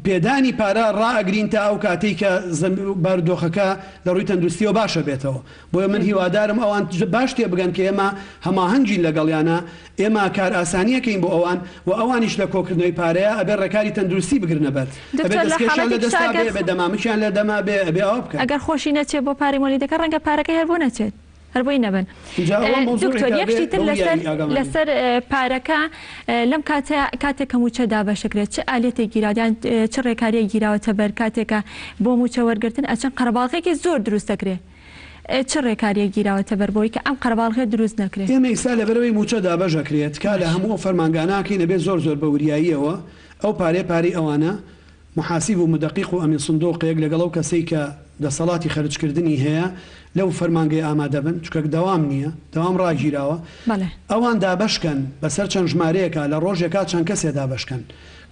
[SPEAKER 2] پێدانی پارە ڕائەگرین تا ئەو کاتەی کە زەم باردۆخەکە لە ڕووی تەندروستیەوە باشەبێتەوە بۆیە من هیوادارم ئەوان باش تێبگەن کە ئێمە هەماهەنگین لەگەڵیانا ئێمە کارئاسانی ئەکەین بۆ ئەوان و ئەوانیش لە کۆکردنەوەی پارەیە ئەبێ ڕێکاری تەندروستی بگرنە بەر ئەبێ دەست کێشیان لە دەستا بێ ئەبێ دەمامکیان لە دەما بێ ئەبێ ئەوە بکەن. ئەگەر خۆشی نەچێ بۆ پارەی
[SPEAKER 1] مۆلیدەکە ڕەنگە پارەکەی هەر بۆ نەچێت هەر بۆی نەبەن. ئینجا ئەوە مەوزوعێکە دکتۆر یەک ئەبێ شتی تر بەو لەسەر دیاری ئاگامان بێ. لەسەر پارەکە لەم کاتە کاتێک کە موچە دابەشەکرێت چ ئالێتێک گیراوە یان چ ڕێکاریەک گیراوەتە بەر کاتێک کە بۆ موچە وەرگرتن ئەچن قەرەباڵغێکی زۆر دروست دەکرێ چ رێکارییەک گیراوەتەبەر بۆی کە ئەم قەرەباڵغیە دروست نەکرێ؟ ئێمە ئیستا لەبەرئەوەی موچە
[SPEAKER 2] دابەش ئەکرێ تکا لە هەموو ئەو فەرمانگا ناکەین ئەبێ زۆر زۆر بە وریاییەوە ئەو پارەیە پارەی ئەوانە محاسیب و مدقیق و ئەمین سندوقێک لەگەڵ ئەو کەسەی کە دەسەڵاتی خەرج کردنی هەیە لەو فەرمانگەیە ئامادە بن چونکە دەوام نییە دەوام ڕاگیراوە ئەوان دابەش کەن بەسەر چەند ژمارەیەکا لە ڕۆژێکا چەند کەسێ دابەش کەن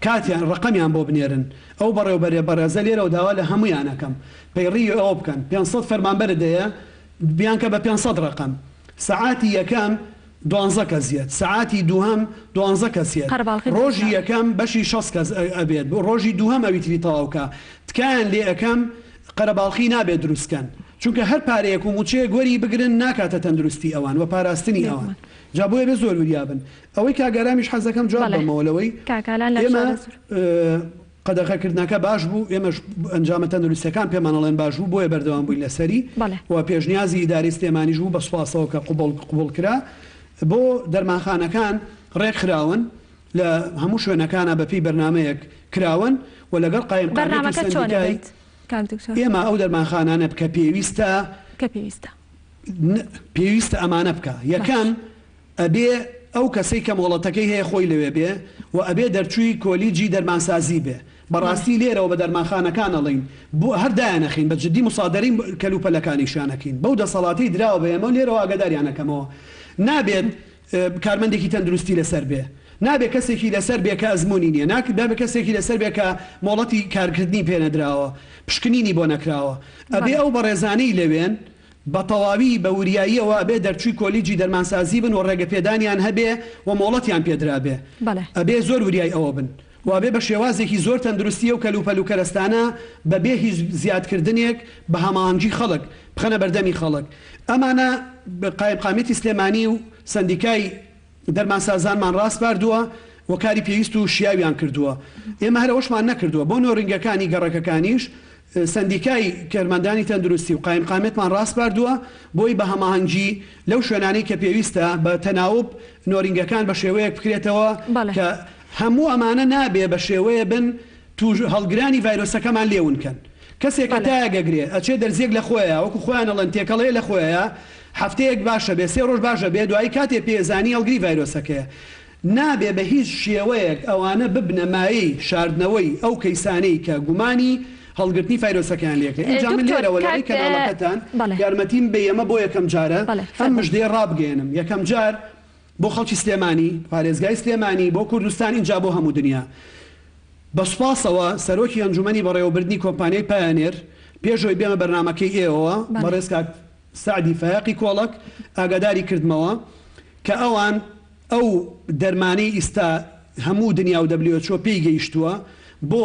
[SPEAKER 2] کاتیان ڕەقەمیان بۆ بنێرن ئەو بەڕێوبەرە بەڕێزە لێرەوە داوا لە هەموویان ئەکەم پەیڕیوی ئەوە بکەن پێنج سەد فەرمانبەرت هەیە بیانکە بە پێنج سەد ڕەقەم سەعاتی یەکەم دوانزە کەس یەت سەعاتی دووهەم دوانزە کەس یەت قەرەباڵغی بە ڕۆژی پیاو. یەکەم بەشی شەست کەس ئە ئەبێت بۆ ڕۆژی دووهەم ئەوی تری تەواو کە تکایان لێ ئەکەم قەرەباڵخی نابێت دروست کەن چونکە هەر پارەیەک و موچەیەک وەری بگرن ناکاتە تەندروستی ئەوان وە پاراستنی ئەوان بێگومان. جا بۆیە بێ زۆر وریا بن ئەوەی کاک ئارامیش حەزەکەم جواب بەڵێ بەمەوە لەوەی کاک ئالان لە ئێمە فشارە زۆر. قەدەغەکردنەکە باش بوو، ئێمەش ئەنجامە تەندروستییەکان پێمان ئەڵێن باش بوو، بۆیە بەردەوام بووین لەسەری بەڵێ. و پێشنیازی ئیدارەی سلێمانیش بوو، بە سوپاسەوە کە قبوڵ قبوڵ کرا. بۆ دەرمانخانەکان ڕێک خراون، لە هەموو شوێنەکانا بەپێی بەرنامەیەک کراوەن و لەگەڵ قایمقامیەتی و بەرنامەکە چۆن سەندیکای ئەبێت کاک دکتۆر؟ ئێمە ئەو دەرمانخانانە کە پێویستە کە پێویستە. ن پێویستە ئەمانە بکا. یەکەم. باش. ئەبێ ئەو کەسەی کە مۆڵەتەکەی هەیە خۆی لەوێ بێ و ئەبێ دەرچووی کۆلیجی دەرمانسازی بێ بەڕاستی لێرەوە بە دەرمانخانەکان ئەڵێین بۆ هەر دایانەخەین بە جدی موسادەرەی کەلوپەلەکانیشیان ئەکەین بەو دەسەڵاتەی دراوە بە ئێمە لێرەوە ئاگاداریان ئەکەمەوە نابێت کارمەندێکی تەندروستی لەسەر بێ نابێ کەسێکی لەسەر بێ کە ئەزموونی نیە نابێ کەسێکی لەسەر بێ کە مۆڵەتی کارکردنی پێ نەدراوە پشکنینی بۆ نەکراوە ئەبێ ئەو بەڕێزانەی لەوێن بە تەواوی بە وریاییەوە ئەبێ دەرچووی کۆلیجی دەرمانسازی بن و ڕێگە پێدانیان هەبێ و مۆڵەتیان پێ درابێ. بەڵێ. ئەبێ زۆر وریای ئەوە بن و ئەبێ بە شێوازێکی زۆر تەندروستی ئەو کەلوپەل و کەرەستانە بە بێ هیچ زیادکردنێک بە هەماهەنگی خەڵک، بخەنە بەردەمی خەڵک. ئەمانە قایمقامیەتی سلێمانی و سەندیکای. دەرمانسازانمان ڕاسپاردووە و کاری پێویست و شیاویان کردووە. ئێمە هەر ئەوەشمان نەکردووە، بۆ نۆرینگەکانی گەڕەکەکانیش سەندیکای کارمەندانی تەندروستی و قایمقامیەتمان ڕاسپاردووە بۆی بە هەماهەنگی لەو شوێنانەی کە پێویستە بە تەناوب نۆرینگەکان بە شێوەیەک بکرێتەوە کە هەموو ئەمانە نابێ بە شێوەیە بن توش هەڵگرانی ڤایرۆسەکەمان لێ ون کەن کەسێک بەڵێ. ئەتایە گەگرێ ئەچێ دەرزیەک لە خۆیە وەکو خۆیان ئەڵێن تێکەڵەیە لە خۆیە هەفتەیەک باشە بێ سێ ڕۆژ باشە بێ دوایی کاتێ پێ زانی هەڵگری ڤایرۆسەکەیە نابێ بە هیچ شێوەیەک ئەوانە ببنە مایەی شاردنەوەی ئەو کەیسانەی کە گومانی هەڵگرتنی فایرۆسەکەیان لێ کە ئینجا من دکتۆر لێرەوە لە ڕێی کاک کەناڵەکەتان بەڵێ یارمەتیم بێ یەمە بۆ یەکەم جارە بەڵێ ئەم فەرموو. مژدەیە ڕابگەیەنم یەکەم جار بۆ خەڵکی سلێمانی، پارێزگای سلێمانی، بۆ کوردستان ئینجا بۆ هەموو دنیا. بە سوپاسەوە سەرۆکی ئەنجومەنی بەڕێوەبردنی کۆمپانیای پایۆنێر، پێشەوەی بێمە بەرنامەکەی ئێوەوە، بەڕێز کاک سەعدی فایەقی کۆڵەک ئاگاداری کردمەوە کە ئەوان ئەو دەرمانەی ئیستا هەموو دنیا و دەبلیو ئێچ ئۆ پێی گەیشتووە بۆ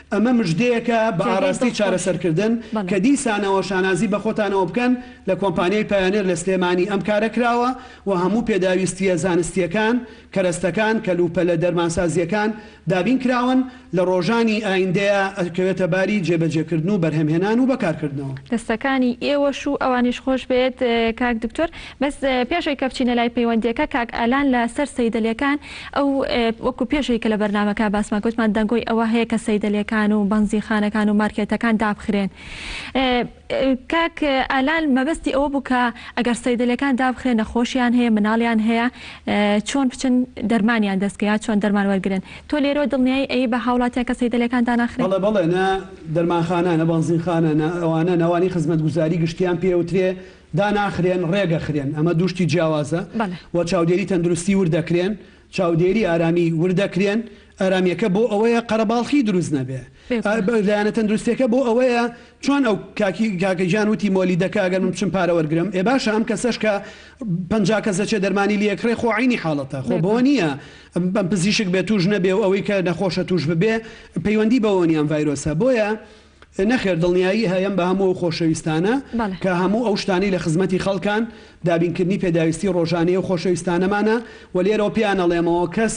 [SPEAKER 2] ئەمە مژدەیەکە بە جێگەی ئاراستی دڵخۆشی. چارەسەرکردن بەڵێ. کە دیسانەوە شانازی بە خۆتانەوە بکەن لە کۆمپانیای پایۆنێر لە سلێمانی ئەم کارە کراوە و هەموو پێداویستییە زانستییەکان، کەرەستەکان، کەلوپەلە دەرمانسازییەکان دابین کراون، لە ڕۆژانی ئایندەیە ئەکەوێتە باری جێبەجێکردن و بەرهەمهێنان و بەکارکردنەوە. دەستەکانی
[SPEAKER 1] ئێوەش و ئەوانیش خۆش بێت کاک دکتۆر. بەس پێشەوی کە بچینە لای پەیوەندیەکە کاک ئالان لە سەر سەیدەلێکان ئەو وەکو پێشەوی کە لە بەرنامەکە باسمان کرد وتمان دەنگۆی ئەوە هەیە کە سەیدەلێکان و بەنزیخانەکان و مارکێتەکان دابخرێن کاک ئالان مەبەستی ئەوە بوو کە ئەگەر سەیدەلێکان دابخرێن نەخۆشیان هەیە مناڵیان هەیە چۆن بچن دەرمانیان دەستکەیا چۆن دەرمان وەرگرن تۆ لێرەوە دڵنیایی ئەیی بە هاوڵاتیان کە سەیدەلێکان داناخرێن؟ بەڵێ بەڵێ نە
[SPEAKER 2] دەرمانخانە نە بەنزینخانە نە ئەوانە نە ئەوانەی خزمەتگوزاری گشتیان پێوترێ داناخرێن، ڕێگەخرێن، ئەمە دوو شتی جیاوازە، بەڵێ. و چاودێری تەندروستی وردەکرێن، چاودێری ئارامی وردەکرێن، ئارامیەکە بۆ ئەوەیە قەرەباڵخی دروست نەبێ، بێگومان. ئە لایەنە تەندروستیەکە بۆ ئەوەیە چۆن ئەو کاکی کاکە گیان وتی مۆلیدەکە ئەگەر من بچم پارە وەرگرم، ئێ باشە ئەم کەسەش کە پەنجا کەس دەچێ دەرمانی لێ کڕێ خۆ عەینی حاڵەتە، خۆ بەوە بێگومان. نیە ئەم ئەم پزیشک بێ توش نەبێ و ئەوەی کە نەخۆشە توش ببێ، پەیوەندی بەوەوە نیە ئەم ڤایرۆسە، بۆیە نەخێر دڵنیایی هە یەم بە هەموو ئەو خۆشەویستانە بەڵێ. کە هەموو ئەو شتانەی لە خزمەتی خەڵکان، دابینکردنی پێداویستی ڕۆژانەی ئەو خۆشەویستانەمانە و لێرەوە پێیان ئەڵێمەوە کەس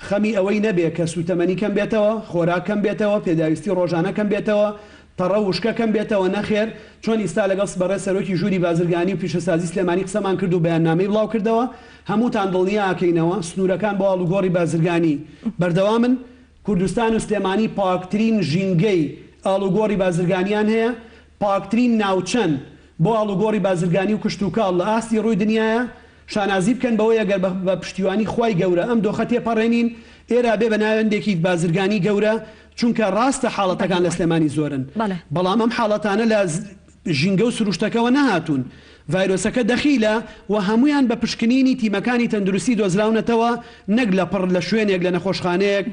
[SPEAKER 2] خەمی ئەوەی نەبێ کە سووتەمەنی کەم بێتەوە، خۆراک کەم بێتەوە، پێداویستی ڕۆژانە کەم بێتەوە، پەڕە و وشکە کەم بێتەوە، نەخێر، چۆن ئیستا لەگەڵ بەڕێز سەرۆکی ژووری بازرگانی و پیشەسازی سلێمانی قسەمان کرد و بەیاننامەی بڵاوکردەوە، هەمووتان دڵنیا ئەکەینەوە سنوورەکان بۆ ئاڵوگۆڕی بازرگانی بەردەوامن، کوردستان و سلێمانی پاکترین ژینگەی ئاڵوگۆڕی بازرگانیان هەیە، پاکترین ناوچەن بۆ ئاڵوگۆڕی بازرگانی و کشتوکاڵ لە ئاستی ڕووی دنیایە، شانازی بکەن بەوەی ئەگەر بە بە پشتیوانی خوای گەورە ئەم دۆخە تێپەڕێنین، ئێرا بێ بە ناوەندێکی بازرگانی گەورە، چونکە ڕاستە حاڵەتەکان بەلێ لە بەڵێ سلێمانی زۆرن، بەڵێ. بەڵام ئەم حاڵەتانە لە. ژینگە و سروشتەکەوە نەهاتوون، ڤایرۆسەکە دەخیلە و هەموویان بە پشکنینی تیمەکانی تەندروستی دۆزراونەتەوە نەک لە پڕ لە شوێنێک لە نەخۆشخانەیەک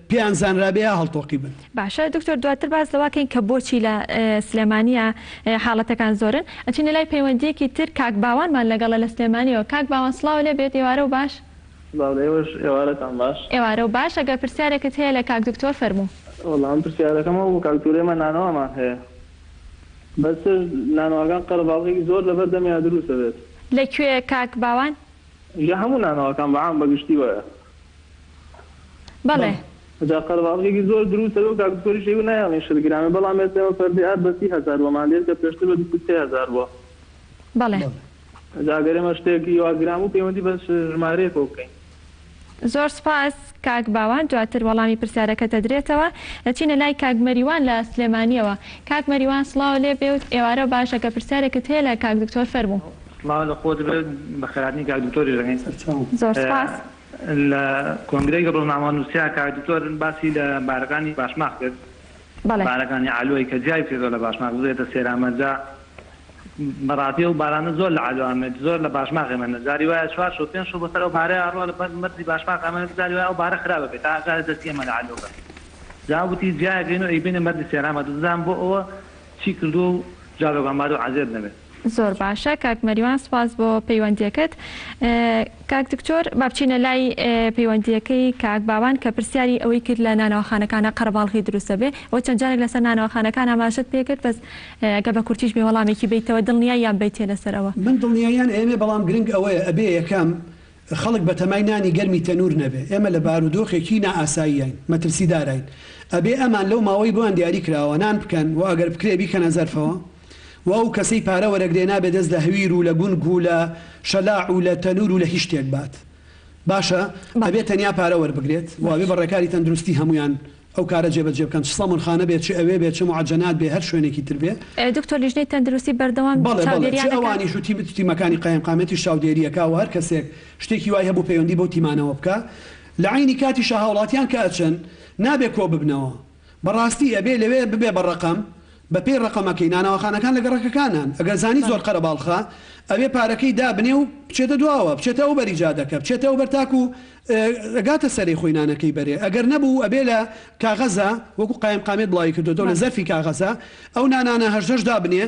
[SPEAKER 2] پێیان زانرابێ هەڵتۆقی بن. باشە دکتۆر دواتر
[SPEAKER 1] باس لەوە کەین کە بۆچی لە سلێمانیە حاڵەتەکان زۆرن. ئەچینە لای پەیوەندیەکی تر کاک باوانمان لەگەڵە لە سلێمانیەوە. کاک باوان سڵاو لێ بێت ئێوارە و باش. سڵاو لێوەش
[SPEAKER 6] ئێوارەتان باش. ئێوارە و باش ئەگەر
[SPEAKER 1] پرسیارێکت هەیە لە کاک دکتۆر فەرموو. وەڵا من پرسیارەکەم
[SPEAKER 6] هەبوو کاک تورێ مە نانەوامان هەیە بەس چ نانەواکان قەرەباڵغیەکی زۆر لەبەر دەمیا دروست دەبێت. لە کوێ کاک
[SPEAKER 1] باوان؟ جا هەموو
[SPEAKER 6] نانەواکان بە عام بە گشتی وایە. بەڵێ.
[SPEAKER 1] جا قەرەباڵغیەکی
[SPEAKER 6] زۆر دروست دەبێت و کاک دکتۆریش دەیوت نایە ئەڵێن شت گرانە بەڵام ئێستا ئێمە پەردەی ئارد بە سی هەزار وەمان دێت کە پێشتر بە بیست و سێ هەزار بووە. بەڵێ.
[SPEAKER 1] جا
[SPEAKER 6] ئەگەر ئێمە شتێک وا گران بوو پەیوەندی بە ژمارەیەکەوە بکەین. زۆر
[SPEAKER 1] سوپاس کاک باوان دواتر وەڵامی پرسیارەکەت دەدرێتەوە. دەچینە لای کاک مەریوان لە سلێمانیەوە. کاک مەریوان سڵاو لێ بێ و ئێوارە باش ئەگەر پرسیارێکت هەیە لە کاک دکتۆر فەرموو. سڵاو لە خۆت
[SPEAKER 7] بێت بەخێرهاتنی کاک دکتۆریش دەکەین. سەرچاو. زۆر سوپاس.
[SPEAKER 1] لە
[SPEAKER 7] کۆنگرەی ڕۆژنامەنووسیا کاک دکتۆر باسی لە بارەکانی باشماخ کرد بارەکانی عەلوەی کە جیای پێ زۆر لە باشماخ بزوێتە سێرامە جا بەڕاتی ئەو بارانە زۆر لە عەلوە ئەمێت زۆر لە باشماخ ئەمێنە جاری وایە چوار شەو پێنج شەو بەسەر ئەو بارە ئەڕوا لە بەر مەرزی باشماخ ئەمێنێت جاری وایە ئەو بارە خراپ ئەبێت تا جارێ دەستی ئەمە لە عەلوە بەرد جا وتی جیایەک ئەینۆ ئەیبەینە مەرزی سێرامە دززان بۆ ئەوە چی کردووە و جا بێگومان بارو عەزێت نەبێت. زۆر باشە
[SPEAKER 1] کاک مەریوان سوپاس بۆ پەیوەندیەکەت کاک دکتۆر با بچینە لای پەیوەندیەکەی کاک باوان کە پرسیاری ئەوەی کرد لە نانەوەخانەکانە قەرەباڵغی دروستە بێ و چەند جارێک لەسەر نانەوەخانەکان ئاماژەت پێکرد بەس گە بە کورتیش بێ وەڵامێکی بیتەوە دڵنیای یان بیتێ لەسەر ئەوە. من دڵنیاییان ئەیەمێ
[SPEAKER 2] بەڵام گرنگ ئەوەیە ئەبێ یەکەم خەڵک بەتەمای نانی گەرمی تەنور نەبێ ئێمە لە بارودۆخێکی نائاساییاین مەترسیداراین ئەبێ ئەمان لەو ماوەی بۆیان دیاری کراوە نان بکەن و ئەگەر بکرێ بیکەنە زەرفەوە و ئەو کەسەی پارە وەرەگرێ نابێ دەست لە هەویر و لە گونگ و لە شەلاع و لە تەنور و لە هیچ شتێک بات باشە ئەبێ تەنیا پارە وەربگرێت و ئەبێ بە ڕێکاری تەندروستی هەموویان ئەو کارە جێبەجێ بکەن چ سەمونخانە بێ چ ئەوێ بێ چ موعەجەنات بێ هەر شوێنێکی تر بێ. دکتۆر لیژنەی تەندروستی
[SPEAKER 1] بەردەوام بەڵێ بەڵێ چ چاودێریان دەکات؟ ئەوانیش و
[SPEAKER 2] تیم تیمەکانی قایمقامیەتیش چاودێری ئەکا و هەر کەسێک شتێکی وای هەبوو پەیوەندی بەو تیمانەوە بکا لە عەینی کاتیشا هاوڵاتیان کە ئەچن نابێ کۆ ببنەوە بەڕاستی ئەبێ لەوێ ببێ بە ڕەقەم بە پێی ڕەقەمەکەی نانەواخانەکان لە گەڕەکەکانان ئەگەر زانی زۆر قەرەباڵخە ئەبێ پارەکەی دابنێ و بچێتە دواوە بچێتە ئەو بەری جادەکە بچێتە ئەو بەر تاکو ئەگاتە سەرێ خۆی نانەکەی بەرێ ئەگەر نەبوو ئەبێ لە کاغەزا وەکو قایمقامیەت بڵاوی کردۆتەوە لە زەرفی کاغەزا ئەو نانانە هەژدەش دابنێ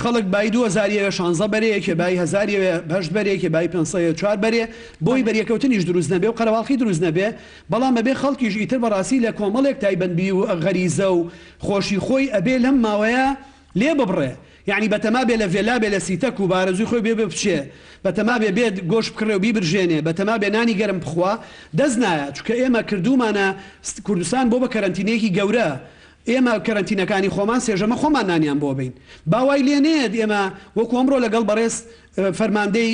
[SPEAKER 2] خەڵک بای دوو هەزار یەوێ شانزە بەرێ یەکێ بای هەزار یەوێ هەشت بەرێ یەکێ بای پێنج سەد یەوێ چوار بەرێ بۆی بەرێ کەوتنیش دروست نەبێ و قەرەواڵخی دروست نەبێ بەڵام ئەبێ خەڵکیش ئیتر بەڕاستی لە کۆمەڵێک تایبەت بی و غەریزە و خۆشی خۆی ئەبێ لەم ماوەیە لێ ببڕێ یانی بەتەما بێ لە ڤێلا بێ لە سیتەک و بە ئارەزوی خۆی بێ بپچێ بەتەما بێ بێت گۆشت بکڕێ و بیبرژێنێ بەتەما بێ نانی گەرم بخوا دەست نایە چونکە ئێمە کردومانە کوردستان بۆ بە کەرەنتینەیەکی گەورە ئێمە کەرەنتینەکانی خۆمان سێژەمە خۆمان نانیان بۆ بەین با وای لێ نێت ئێمە وەکو ئەمڕۆ لەگەڵ بەڕێز فەرماندەی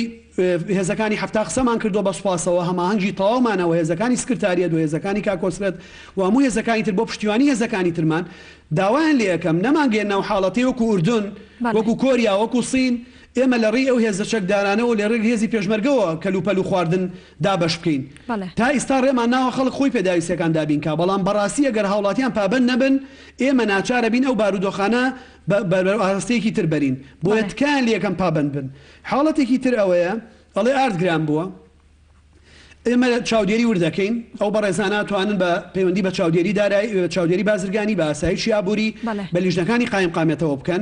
[SPEAKER 2] هێزەکانی حەفتا قسەمان کردوە بە سوپاسەوە هەماهەنگی تەواومانە وە هێزەکانی سکرتاریەت و هێزەکانی کاک کۆسرەت و هەموو هێزەکانی تر بۆ پشتیوانی هێزەکانی ترمان داوایان لێ ئەکەم نەمان گەیەننە ئەو حاڵەتەی وەکو ئوردن وەکو کۆریا وەکو سین ئێمە لە ڕێی ئەو هێزە چەکدارانەوە و لە ڕێی هێزی پێشمەرگەوە کەلوپەل و خواردن دابەش بکەین بەڵێ. تا ئیستا ڕێمان ناوە خەڵک خۆی پێداویستیەکان دابین کا بەڵام بەڕاستی ئەگەر هاوڵاتیان پابەند نەبن ئێمە ناچارە بین ئەو بارودۆخانە بە بەرەو ئاراستەیەکی تر بەرین بۆیە بەڵێ. تکایان لێکەم پابەند بن حاڵەتێکی تر ئەوەیە ئەڵێ ئارد گران بووە ئێمە چاودێری ورد ئەکەین ئەو بەڕێزانە توانن بە پەیوەندی بە چاودێری دارای چاودێری بازرگانی بە ئاسایشی ئابووری بەڵێ. بە لیژنەکانی قایمقامیەتەوە بکەن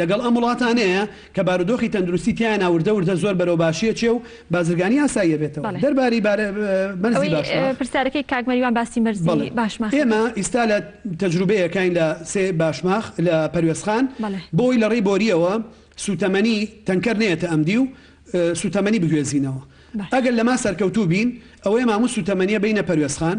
[SPEAKER 2] لەگەڵ ئەم وڵاتانەیە کە بارودۆخی تەندروستی تیانا وردە وردە زۆر بەرەو باشی ئەچێ و بازرگانی ئاسایی ئەبێتەوە. بەڵێ. دەربارەی بارە مەرزی ئەوەی باشماخ. پرسیارەکەی کاک مەریوان
[SPEAKER 1] باسی مەرزی بەڵێ. باشماخ ئێمە کرد. ئیستا لە
[SPEAKER 2] تەجروبەیەکاین لە سێ باشماخ لە پەروێزخان بەڵێ. بۆی لە ڕێی بۆریەوە سوتەمەنی تەنکەر نەیەتە ئەم دیو سوتەمەنی بگوێزینەوە. باشە. ئەگەر لەما سەرکەوتوو بین ئەوە ئێمە هەموو سوتەمەنیە بەینە پەروێزخان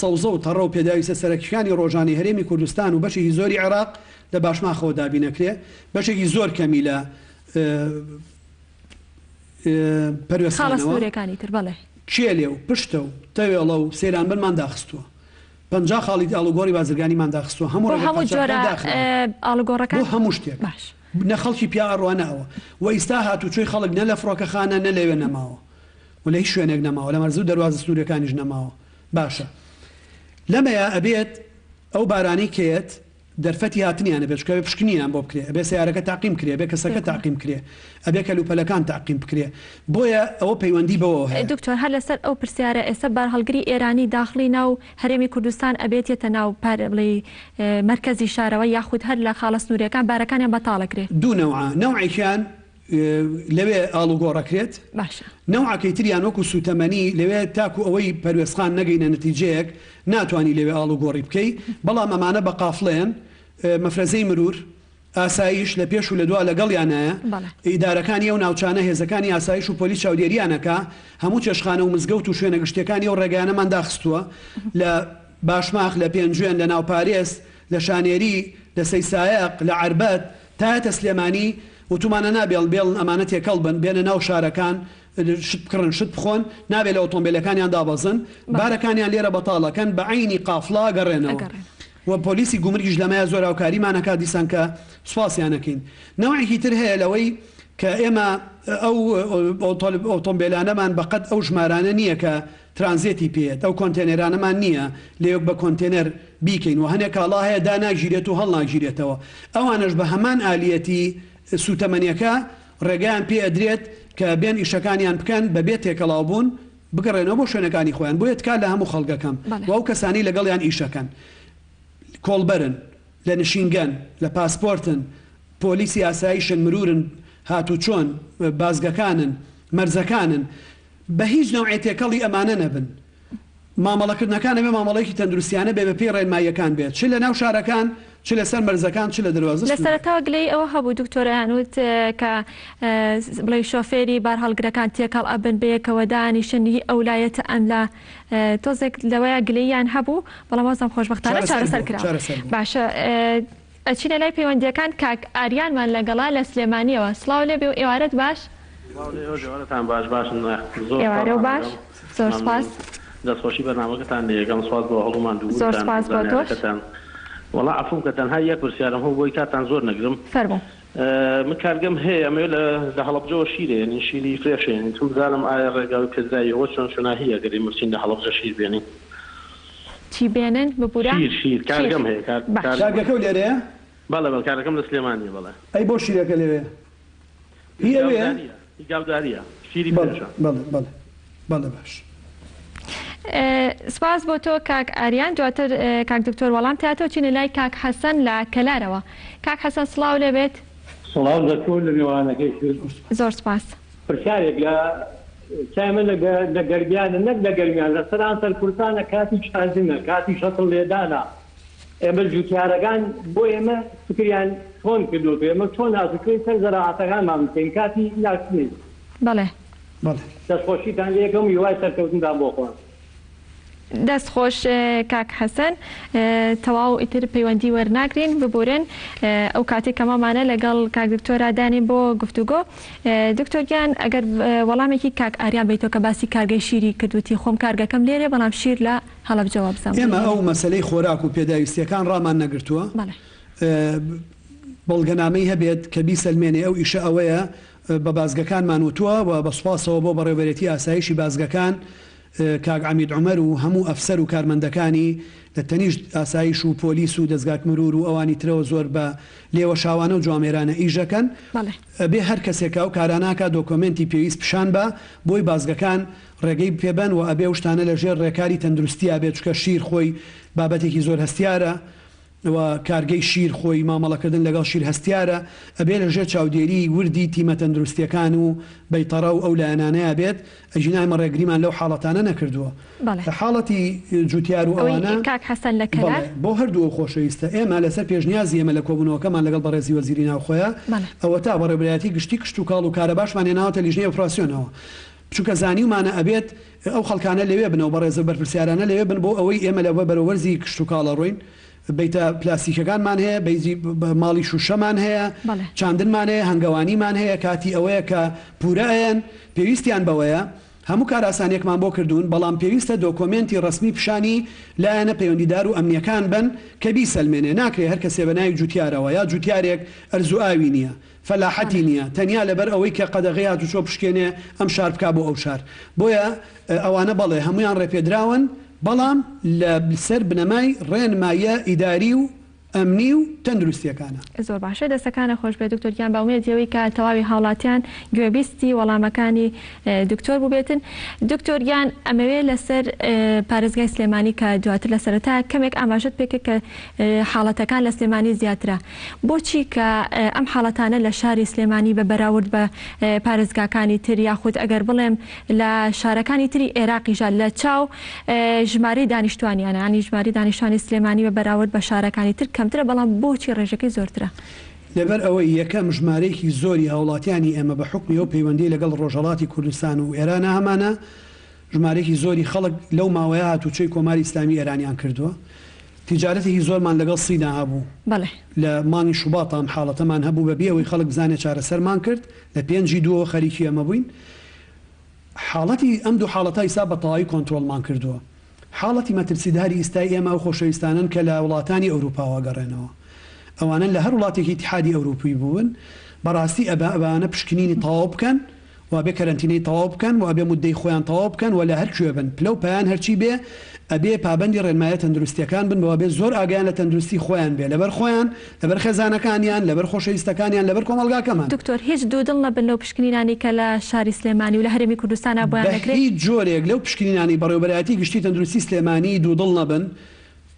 [SPEAKER 2] سەوزە و تەڕە و پێداویستە سەرەکییەکانی ڕۆژانەی هەرێمی کوردستان و بەشێکی زۆری عێراق لە باشماخەوە دابین نەکرێ، بەشێکی زۆر کەمی لە خاڵە
[SPEAKER 1] پەروێستخانەوە، سنوورەکانی تر، بەڵێ. کێلێ و پشتە
[SPEAKER 2] و تەوێڵە و سێلانبنمان داخستووە. پەنجا خاڵی ئاڵوگۆڕی بازرگانیمان داخستووە، هەموو بۆ ڕێگە هەموو جۆرە
[SPEAKER 1] قاچاخبەر داخراوە. بۆ ئاڵوگۆڕەکان؟ هەموو شتێک. باش.
[SPEAKER 2] نە خەڵکی پیا ئەڕوانە ئەوە. و ئیستا هاتووچۆی خەڵک نە لە فڕۆکەخانە، نە لەوێ نەماوە و لە هیچ شوێنێک نەماوە، لە مەرز و دەروازە سنوورییەکانیش نەماوە. باشە لەمەیا ئەبێت ئەو بارانەی کەیەت دەرفەتی هاتنیان ئەبێت چونکە ئەبێ پشکنینیان بۆ بکرێ ئەبێ سەیارەکە تاقیم کرێ ئەبێ کەسەکە تاقیم کرێ ئەبێ کەلوپەلەکان تاقیم بکرێ بۆیە ئەوە پەیوەندی بەوەوە هەیە. دکتۆر هەر لەسەر ئەو
[SPEAKER 1] پرسیارە ئێستا بارهەڵگری ئێرانی داخڵی ناو هەرێمی کوردستان ئەبێت یەتە ناو پار بڵێی مەرکەزی شارەوە یاخود هەر لە خاڵە سنوریەکان بارەکانیان بەتاڵ ئەکرێ؟ دوو نەوعە
[SPEAKER 2] نەوعێکیان. لەوێ ئاڵوگۆڕەکرێت باشە.
[SPEAKER 1] نەوعەکەی تریان وەکو
[SPEAKER 2] سوتەمەنی لەوێ تاکو ئەوەی پەروێزخان نەگەینە نەتیجەیەک ناتوانی لەوێ ئاڵوگۆڕی بکەی بەڵام ئەمانە بە قافڵەیەن مەفرەزەی مرور ئاسایش لە پێش و لە دوا لەگەڵیانایە بەڵێ. ئیدارەکانی ئەو ناوچانە هێزەکانی ئاسایش و پۆلیس چاودێریان ئەکا هەموو چێشخانە و مزگەوت و شوێنە گشتیەکانی ئەو ڕێگایانەمان داخستووە لە باشماخ لە پێنجوێن لە ناوپارێز لە شانێری لە سەیسایەق لە عەربەت تایەتە سلێمانی وتومانە نابێڵ بێڵن ئەمانە تێکەڵ بن بێنە ناو شارەکان شت بکڕن شت بخۆن نابێ لە ئۆتۆمبێلەکانیان دابەزن بارەکانیان لێرە بەتاڵەکەن بە عەینی قافڵە ئەگەڕێنەوە و پۆلیسی گومرگیش لەمەیە زۆر هاوکاریمان ئەکا دیسان کە سوپاسیان ئەکەین نەوعێکی تر هەیە لەوەی کە ئێمە ئەو ئۆتۆمبێلانەمان بەقەد ئەو ژمارانە نییە کە ترانزێتی پێیەت ئەو کۆنتێنێرانەمان نییە لێوک بە کۆنتێنەر بیکەین وە هەنێ کاڵا هەیە داناگیرێت و هەڵناگیرێتەوە ئەوانەش بە هەمان ئالیەتی سوتەمەنیەکە ڕێگایان پێ ئەدرێت کە بێن ئیشەکانیان بکەن بە بێ تێکەڵاو بوون بگەڕێنەوە بۆ شوێنەکانی خۆیان بۆیە تکا لە هەموو خەڵکەکەم بەڵێ. وە ئەو کەسانەی لەگەڵیان ئیشەکەن کۆڵبەرن لە نشینگەن لە پاسپۆرتن پۆلیسی ئاسایشن مرورن هاتوچۆن بازگەکانن مەرزەکانن بە هیچ نەوعێ تێکەڵی ئەمانە نەبن. مامەڵەکردنەکان ئەبێ مامەڵەیەکی تەندروستیانە بێ بە پێی ڕێنماییەکان بێ چ لە ناو شارەکان چ لە سەر مەرزەکان چ لە دەروازە لە سنووری. سەرەتاوە گلەیی ئەوە
[SPEAKER 1] هەبوو دکتۆرە یانوت کە بڵێی شۆفێری بارهەڵگرەکان تێکەڵ ئەبن بە یەکەوە دانیشن هی ئەولا یەتە ئەملا تۆزێک لەوەیە گلەییان هەبوو بەڵام وازم خۆشبەختانە چارەسەر کرا باشە ئەچینە لای پەیوەندیەکان کاک ئاریانمان لەگەڵە لە سلێمانیەوە سڵاو لێبێ و ئێوارەت باش. سڵاو لە ئێوەش ئێوارەتان باش باشن زۆر سوپاس ئێوارەو باش زۆر سوپاس. دەستخۆشی
[SPEAKER 8] بەرنامەکەتان لێ یەکەم سوپاس بۆ هەڵو ماندو بونتان بۆ
[SPEAKER 1] زانیارەکەتان وەڵا
[SPEAKER 8] عەفوم کە تەنها یەک پرسیارم هەبو بۆی کاتتان زۆر نەگرم فەرموو.
[SPEAKER 1] من کارگەم
[SPEAKER 8] هەیە ئەمەوێ لە لە هەڵەبجەوە شیر ێنین شیری فرێش ێنین چون بزانم ئایا ڕێگاوی پێزراویەوە چۆن چۆناهی ئەگەر ئیمرچین لە هەڵەبجە شیر بێنین.
[SPEAKER 1] چی بێنن ببورە؟ شیر شیر کارگەم هەیە
[SPEAKER 8] کار کار. کارگەکەو
[SPEAKER 2] لێرەیە؟ بەڵێ بەڵێ کارەکەم
[SPEAKER 8] لە سلێمانیە بەڵێ. ئەی بۆ شیرەکە لەوێ
[SPEAKER 2] هی ئەوێ؟ گاوداریە شیری فرێشە. بەڵێ بەڵێ بەڵێ باش.
[SPEAKER 1] سپاس بۆ تۆ کاک ئاریان دواتر کاک دکتۆر وەڵام تاتۆ چینە لای کاک حەسەن لە کەلارەوە کاک حەسەن سڵاو لێ بێت. سڵاو لە تۆ و
[SPEAKER 9] لە مێوانەکەی تر. زۆر سپاس.
[SPEAKER 1] پرسیارێک لە
[SPEAKER 9] چای من لە گەرمیانە نەک لە گەرمیان لە سەرانسەر کوردستانە کاتی چاندنە کاتی شەتڵ لێدانە. ئێمە جوتیارەکان بۆ ئێمە فکریان چۆن کردووە کە ئێمە چۆن هاتوچۆی سەر زەراعەتەکانمان بکەین کاتی ناشتنی. بەڵێ. بەڵێ.
[SPEAKER 1] دەستخۆشیتان
[SPEAKER 9] لێکەم و هیوای سەرکەوتنتان بۆ خۆم. دەست
[SPEAKER 1] خۆش کاک حەسەن تەواو ئیتر پەیوەندی وەرناگرین ببورن ئەو کاتەی کە مامانە لەگەڵ کاک دکتۆرا دانێین بۆ گفتوگۆ دکتۆر گیان ئەگەر وەڵامێکی کاک ئاریان بەیتۆ کە باسی کارگەی شیری کردوتی خۆم کارگەکەم لێرەیە بەڵام شیر لە هەڵەب جواب زام ئێمە ئەو بەرێوەبەرێ. مەسەلەی
[SPEAKER 2] خۆراک و پێداویستیەکان ڕامان نەگرتووە بەڵێ. بەڵگەنامەی هەبێت کە بیسەلمێنێ ئەو ئیشە ئەوەیە بە بازگەکانمان وتووە و بە سوپاسەوە بۆ بەڕێوەبەرێتی ئاسایشی بازگەکان کاک عەمید عومەر و هەموو ئەفسەر و کارمەندەکانی لە تەنیشت ئاسایش و پۆلیس و دەزگات مرور و ئەوانی ترەوە زۆر بە لێوەشاوانە و جوامێرانە ئیش ئەکەن بەڵێ. ئەبێ هەر کەسێک کە ئەو کاراناکا دۆکۆمێنتی پێویست پشان با بۆی بازگەکان ڕێگەی پێ بەن وە ئەبێ ئەوشتانە لە ژێر ڕێکاری تەندروستیا بێت چونکە شیر خۆی بابەتێکی زۆر هەستیارە وە کارگەی شیر خۆی مامەڵە کردن لەگەڵ شیر هەستیارە ئەبێ لە ژێر چاودێری وردی تیمە تەندروستیەکان و بەیطەرە و ئەو لایەنانەیا بێت ئەگینا ئێمە ڕێگریمان لەو حاڵەتانە نەکردووە بەڵێ حاڵەتی جوتیار و ئەوانە ئەوەی کاک حەسەن لە کەلار. بەڵێ بۆ هەردوو ئەو خۆشەویستە ئێمە لەسەر پێشنیازی ئێمە لە کۆبونەوەکەمان لەگەڵ بەڕێزی وەزیری ناوخۆیا بەڵێ. ئەوەتا بەڕێوبەرایەتی گشتی کشتوکاڵ و کارەباشمان هێناوەتە لیژنەی ئۆپڕاسیۆنەوە چونکە زانیومانە ئەبێت ئەو خەڵکانە لەوێ بن، ئەو بەڕێزە و بەرپرسیارانە لەوێ بن بۆ ئەوەی ئێمە لە بەرەو وەرزی کشتوکاڵ ئەڕۆین، بەیتە پلاستیکەکانمان هەیە، بەیجی ماڵی شووشەمان هەیە، بەڵێ. چاندنمان هەیە، هەنگەوانیمان هەیە، کاتی ئەوەیە کە پوورە ئەیەن، پێویستیان بەوەیە، هەموو کارئاسانیەکمان بۆ کردوون، بەڵام پێویستە دۆکۆمێنتی ڕەسمی پیشانی لایەنە پەیوەندیدار و ئەمنیەکان بەن کە بیسەلمێنێ، ناکرێ هەر کەسێ بە ناوی جووتیارەوە یا جووتیارێک ئەرزو ئاوی نییە، فەلاحەتی نیە تەنیا لەبەر ئەوەی کە قەدەغەی هاتوچۆ پشکێنێ ئەم شار بکا بۆ ئەو شار بۆیە ئەوانە بەڵێ هەموویان ڕێپێدراون بەڵام لە سەر بنەمای ڕێنماییە ئیداری و ئەمنی و تەندروستیەکانە. زۆر باشە
[SPEAKER 1] دەستەکانت خۆشبێت دکتۆر گیان بە ئومێدی ئەوەی کە تەواوی هاوڵاتیان گوێبیستی وەڵامەکانی دکتۆر بوبێتن دکتۆر گیان ئەمەوێ لەسەر پارێزگای سلێمانی کە دواتر لە سەرەتایە کەمێک ئاماژەت پێکرد کە حاڵەتەکان لە سلێمانی زیاترە بۆچی کە ئەم حاڵەتانە لە شاری سلێمانی بە بەراورد بە پارێزگاکانی تر یاخود ئەگەر بڵێم لە شارەکانی تری ئێراقیشە لە چاو ژمارەی دانیشتوانیانە ینی ژماری دانیشتوانی سلێمانی بە بەراورد بە شارەکانی تر کەمترە بەڵام بۆچی ڕێژەکەی زۆرترە؟ لەبەر ئەوەی
[SPEAKER 2] یەکەم ژمارەیەکی زۆری هاوڵاتیانی ئێمە بە حوکمی ئەو پەیوەندیەی لەگەڵ ڕۆژهەڵاتی کوردستان و ئێرانە هەمانە، ژمارەیەکی زۆری خەڵک لەو ماوەیە هاتووچۆی کۆماری ئیسلامی ئێرانیان کردووە. تیجارەتێکی زۆرمان لەگەڵ سینا هەبوو. بەڵێ. لە مانگی شوباط ئەم حاڵەتەمان هەبوو بەبێ ئەوەی خەڵک بزانێت چارەسەرمان کرد. لە پێنج ی دووەوە خەریکی ئەمە بووین. حاڵەتی ئەم دوو حاڵەتە ئیستا بە تەواوی کۆنترۆڵمان کردووە. حاڵەتی مەترسیداری ئیستای ئێمە ئەو خۆشەویستانەن کە لە وڵاتانی ئەوروپاوە ئەگەڕێنەوە. ئەوانە لە هەر وڵاتێکی ئیتحادی ئەوروپی بوون. بەڕاستی ئەبا ئەوانە پشکنینی تەواو بکەن. وابێ کەرەنتینەی تەواو بکەن و ئەبێ موددەی خۆیان تەواو بکەن و لە هەر کوێ بن پلە و پایان هەرچی بێ ئەبێ پابەندی ڕێنمایە تەندروستیەکان بن بەوەبێ زۆر ئاگایان لە تەندروستی خۆیان بێ لەبەر خۆیان لەبەر خێزانەکانیان لەبەر خۆشەویستەکانیان لەبەر کۆمەڵگاکەمان. دکتۆر هیچ دوو دڵ
[SPEAKER 1] نەبن لەو پشکنینانەی کە لە شاری سلێمانی و لە هەرێمی کوردستانا بۆیان بە دەکرێ. هیچ جۆرێک لەو
[SPEAKER 2] پشکنینانەی بەڕێوەبەرایەتی گشتی تەندروستی سلێمانی دوو دڵ نەبن،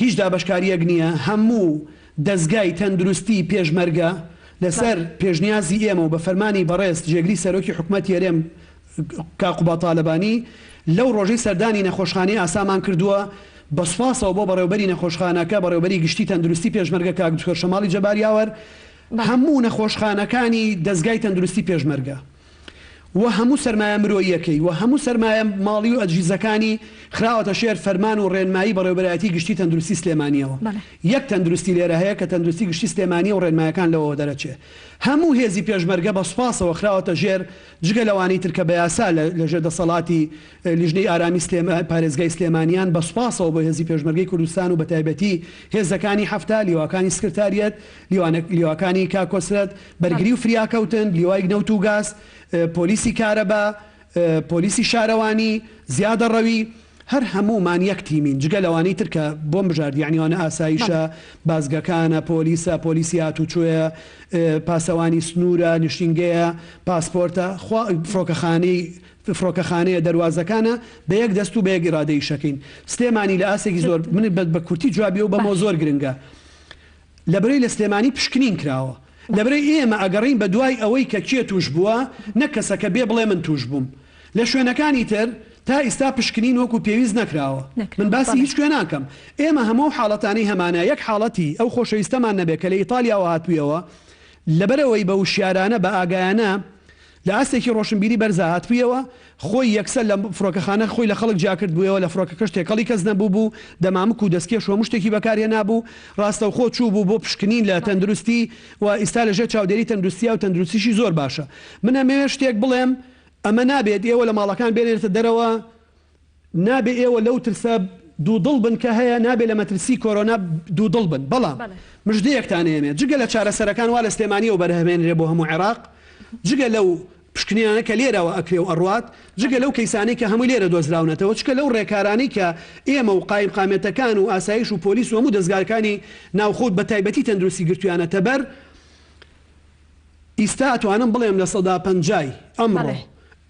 [SPEAKER 2] هیچ دابەشکارییەک نییە، هەموو دەزگای تەندروستی پێشمەرگە لەسەر پێشنیازی ئێمە و بە فەرمانی بەڕێز جێگری سەرۆکی حکومەتی هەرێم کاک قوباد تالەبانی لەو ڕۆژەی سەردانی نەخۆشخانەی ئاسامان کردووە بە سوپاسەوە بۆ بەڕێوبەری نەخۆشخانەکە بەڕێوبەری گشتی تەندروستی پێشمەرگە کاک دکتۆر شەماڵی جەبار یاوەر هەموو نەخۆشخانەکانی دەزگای تەندروستی پێشمەرگە. و هەموو سەرمایە مرۆییەکەی و هەموو سەرمایە ماڵی و ئەجهیزەکانی خراوەتە ژێر فەرمان و ڕێنمایی بەڕێوبەرایەتی گشتی تەندروستی سلێمانیەوە بەڵێ. یەک تەندروستی لێرە هەیە کە تەندروستی گشتی سلێمانیە و ڕێنمایەکان لەوەوە دەرەچێ هەموو هێزی پێشمەرگە بە سوپاسەوە خراوەتە ژێر جگە لەوانەی تر کە بە یاسا لە لە ژێر دەسەڵاتی لیژنەی ئارامی سلێما پارێزگای سلێمانیان بە سوپاسەوە بۆ هێزی پێشمەرگەی کوردستان و بە تایبەتی هێزەکانی حەفتا لیواکانی سکرتاریەت لیوانە لیواکانی کاک کۆسرەت بەرگری و فریاکەوتن، لیوای نەوت و گاز، پۆلیسی کارەبا، پۆلیسی شارەوانی، زیادەڕەوی، هەر هەموومان یەک تیمین، جگە لەوانەی تر کە بۆم بژارد، یەعنی ئەوانە ئاسایشە، بازگەکانە، پۆلیسە، پۆلیسی هاتووچۆیە، پاسەوانی سنوورە، نشینگەیە، پاسپۆرتە، خوا، فڕۆکەخانەی، فڕۆکەخانەیە، دەروازەکانە، بە یەک دەست و بە یەک ئیرادە ئیشەکەین. سلێمانی لە ئاستێکی زۆر، من بە کورتی جوابی ئەو بەمەوە زۆر گرنگە، لەبەرەی لە سلێمانی پشکنین کراوە لەبەرەی ئێمە ئەگەڕین بە دوای ئەوەی کە کێ توش بووە نەک کەسەکە بێ بڵێ من توش بووم لە شوێنەکانی تر تا ئیستا پشکنین وەکو پێویست نەکراوە من نەکراوە باسی بەڵێ. هیچ کوێ ناکەم ئێمە هەموو ئەو حاڵەتانەی هەمانە یەک حاڵەتی ئەو خۆشەویستەمان نەبێ کە لە ئیتالیاوە هاتبویەوە لەبەرئەوەی بە وشیارانە بە ئاگایانە لە ئاستێکی ڕۆشنبیری بەرزا هاتبوویەوە، خۆی یەکسەر لە فڕۆکەخانە خۆی لە خەڵک جیا کردبوویەوە، لە فڕۆکەکەش تێکەڵی کەس نەبووبوو، دەمامک و دەستکێش و هەموو شتێکی بەکار هێنابوو، ڕاستەوخۆ چووبوو بۆ پشکنین لە تەندروستی و ئیستا لە ژێر چاودێری تەندروستیە و تەندروستیشی زۆر باشە. من ئەمەوێ شتێک بڵێم، ئەمە نابێت ئێوە لە ماڵەکان بێنێرێتە دەرەوە، نابێ ئێوە لەو ترسە دوودڵ بن کە هەیە، نابێ لە مەترسی کۆرۆنا دوودڵ بن، بەڵام مژدەیەکتان ئەیەمێ، جگە لە چارەسەرەکان وا لە سلێمانییەوە بەرهەمێنرێ بۆ هەموو عێراق، جگە لەو پشکنینانە کە لێرەوە ئەکرێ و ئەڕوات، جگە لەو کەیسانەی کە هەمووی لێرە دۆزراونەتەوە، چکە لەو ڕێکارانەی کە ئێمە و قایمقامیەتەکان و ئاسایش و پۆلیس و هەموو دەزگاکانی ناوخۆ و بەتایبەتی تەندروستی گرتویانەتەبەر، ئیستا ئەتوانم بڵێم لە سەدا پەنجای ئەمڕۆ بەڵێ.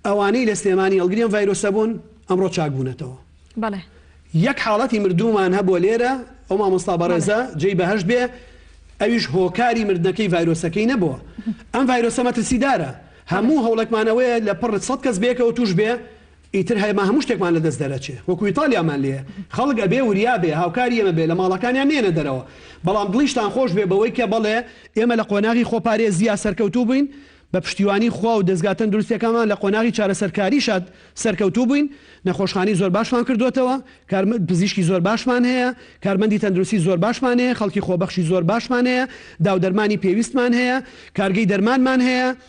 [SPEAKER 2] ئەوانەی لە سلێمانی هەڵگری ئەم ڤایرۆسە بوون ئەمڕۆ چاک بوونەتەوە. بەڵێ. یەک حاڵەتی مردوومان هەبووە لێرە ئەو مامۆستا بەڵێ. بەڕێزە جێی بەهەشت بێ ئەویش هۆکاری مردنەکەی ڤایرۆسەکەی نەبووە. ئەم ڤایرۆسە مەترسیدارە. بەڵێ. هەموو هەوڵێکمان ئەوەیە لە پڕ سەد کەس بێکەوە تووش بێ ئیتر هەێما هەموو شتێکمان لە دەست دەرەچێ وەکو ئیتالیامان لێیە خەڵک ئەبێ وریا بێ هاوکاری ئێمە بێ لە ماڵەکانیان نێنە دەرەوە بەڵام دڵیشتان خۆش بێ بەوەی کە بەڵێ ئێمە لە قۆناغی خۆپارێزیا سەرکەوتوو بووین بە پشتیوانی خوا و دەزگا تەندروستیەکانمان لە قۆناغی چارەسەرکاریشا سەرکەوتوو بووین نەخۆشخانەی زۆر باشمان کردۆتەوە کار پزیشکی زۆر باشمان هەیە کارمەندی تەندروستی زۆر باشمان هەیە خەڵکی خۆبەخشی زۆر باشمان هەیە داودەرمانی پێویستمان هەیە کارگەی دەرمانمان هەیە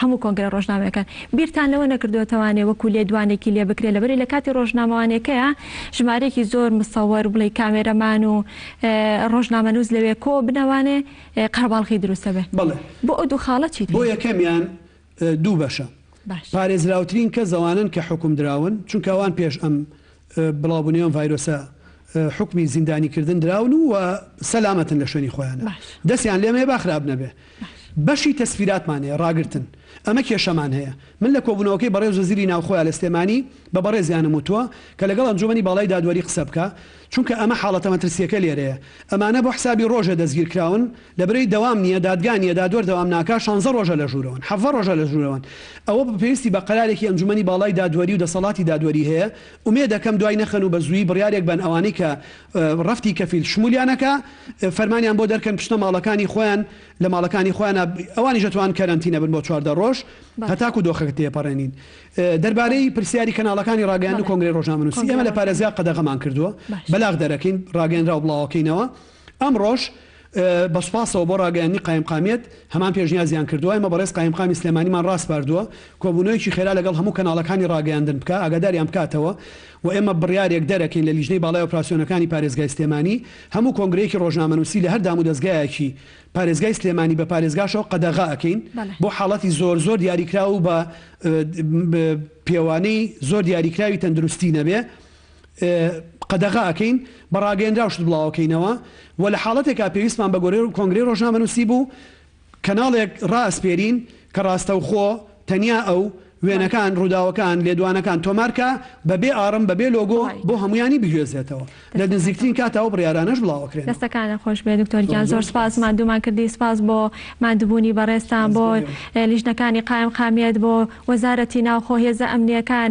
[SPEAKER 1] هەموو کۆنگرە ڕۆژنامەکان بیرتان لەوە نەکردووە تەوانێ وەکو لێدوانێکی لێ بکرێ لەبەری لە کاتی ڕۆژنامەوانێکەیا ژمارەیەکی زۆر مسەوەر بڵێی کامێرەمان و ڕۆژنامەنووس لەوێ کۆ بنەوانێ قەرەباڵغی دروست ئەبێ بەڵێ بۆ ئەو دوو خاڵە چیت بۆ پێ یەکەمیان
[SPEAKER 2] دوو بەشە باش. پارێزراوترین کەس ئەوانەن کە حوکم دراون چونکە ئەوان پێش ئەم بڵاوبونی ئەم ڤایرۆسە حوکمی زیندانی کردن دراون و سەلامەتن لە شوێنی خۆیانە باش دەسیان لێمەیە با خراپ نەبێ باش بەشی تەسفیراتمان هەیە ڕاگرتن ئەمە کێشەمان هەیە من لە کۆبونەوەکەی بەڕێز وەزیری ناوخۆیا لە سلێمانی بە بەڕێزیانم وتوە کە لەگەڵ ئەنجومەنی باڵای دادوەری قسە بکا چونکە ئەمە حاڵەتە مەترسیەکە لێرەیە ئەمانە بۆ حسابی ڕۆژێ دەستگیرکراون لەبرەی دەوام نیە دادگا نیە دادوەر دەوام ناکا شانزە ڕۆژە لە ژورەوەن حەڤە ڕۆژە لە ژورەوەن ئەوە پێویستی بە قەرارێکی ئەنجومەنی باڵای دادوەری و دەسەڵاتی دادوەری هەیە ئومێد دەکەم دوای نەخەن و بە زووی بڕیارێک بەن ئەوانەی کە ڕەفتی کەفیل شمولیانەکا فەرمانیان بۆ دەرکەن بچنە ماڵەکانی خۆیان لە ماڵەکانی خۆیانا ئەوانیش دەتوان کەرەنتینە بن بۆ چواردە ڕۆژ هەتاکو دۆخەکە تێپەڕێنین دەربارەی پرسیاری کەناڵەکانی ڕاگەیاندن کۆنگرەی ڕۆژنامەنوسی ئێمە لە پارێزگا قەدەغەمان کردووە بەلاغ دەرەکەین ڕاگەیەنراو بڵاوەکەینەوە. ئەمڕۆش بە سوپاسەوە بۆ ڕاگەیاندنی قایمقامیەت هەمان پێشنیازیان کردووە، ئێمە بەڕێز قایمقامی سلێمانیمان ڕاسپاردووە کۆبوونەوەیەکی خێرا لەگەڵ هەموو کەناڵەکانی ڕاگەیاندن بکا ئاگاداریان بکاتەوە و ئێمە بڕیارێک دەرەکەین لە لیژنەی باڵای ئۆپراسیۆنەکانی پارێزگای سلێمانی هەموو کۆنگرەیەکی ڕۆژنامەنووسی لە هەر دامودەزگایەکی پارێزگای سلێمانی بە پارێزگاشەوە قەدەغە ئەکەین بۆ حاڵەتی زۆر زۆر دیاریکراو و بە پێوانەی زۆر دیاریکراوی تەندروستی نەبێ. قەدەغە ئەکەین بە ڕاگەیەندراو شت بڵاوەکەینەوە و لە حاڵەتێکا پێویستمان بە کۆنگرەی ڕۆژنامەنووسی بوو کەناڵێک ڕائەسپێرین کە ڕاستەوخۆ تەنیا ئەو وێنەکان، ڕووداوەکان، لێدوانەکان تۆمار کا بە بێ ئاڕم بە بێ لۆگۆ بۆ هەموویانی بگوێزێتەوە لە نزیکترین کاتا ئەو بڕیارانەش بڵاوەکرێنەوە. دەستەکانت خۆش بێت دکتۆر
[SPEAKER 1] گیان زۆر سپاس ماندوومان کردی سپاس بۆ ماندووبوونی بەڕێزتان بۆ لیژنەکانی قایمقامیەت بۆ وەزارەتی ناوخۆ هێزە ئەمنیەکان.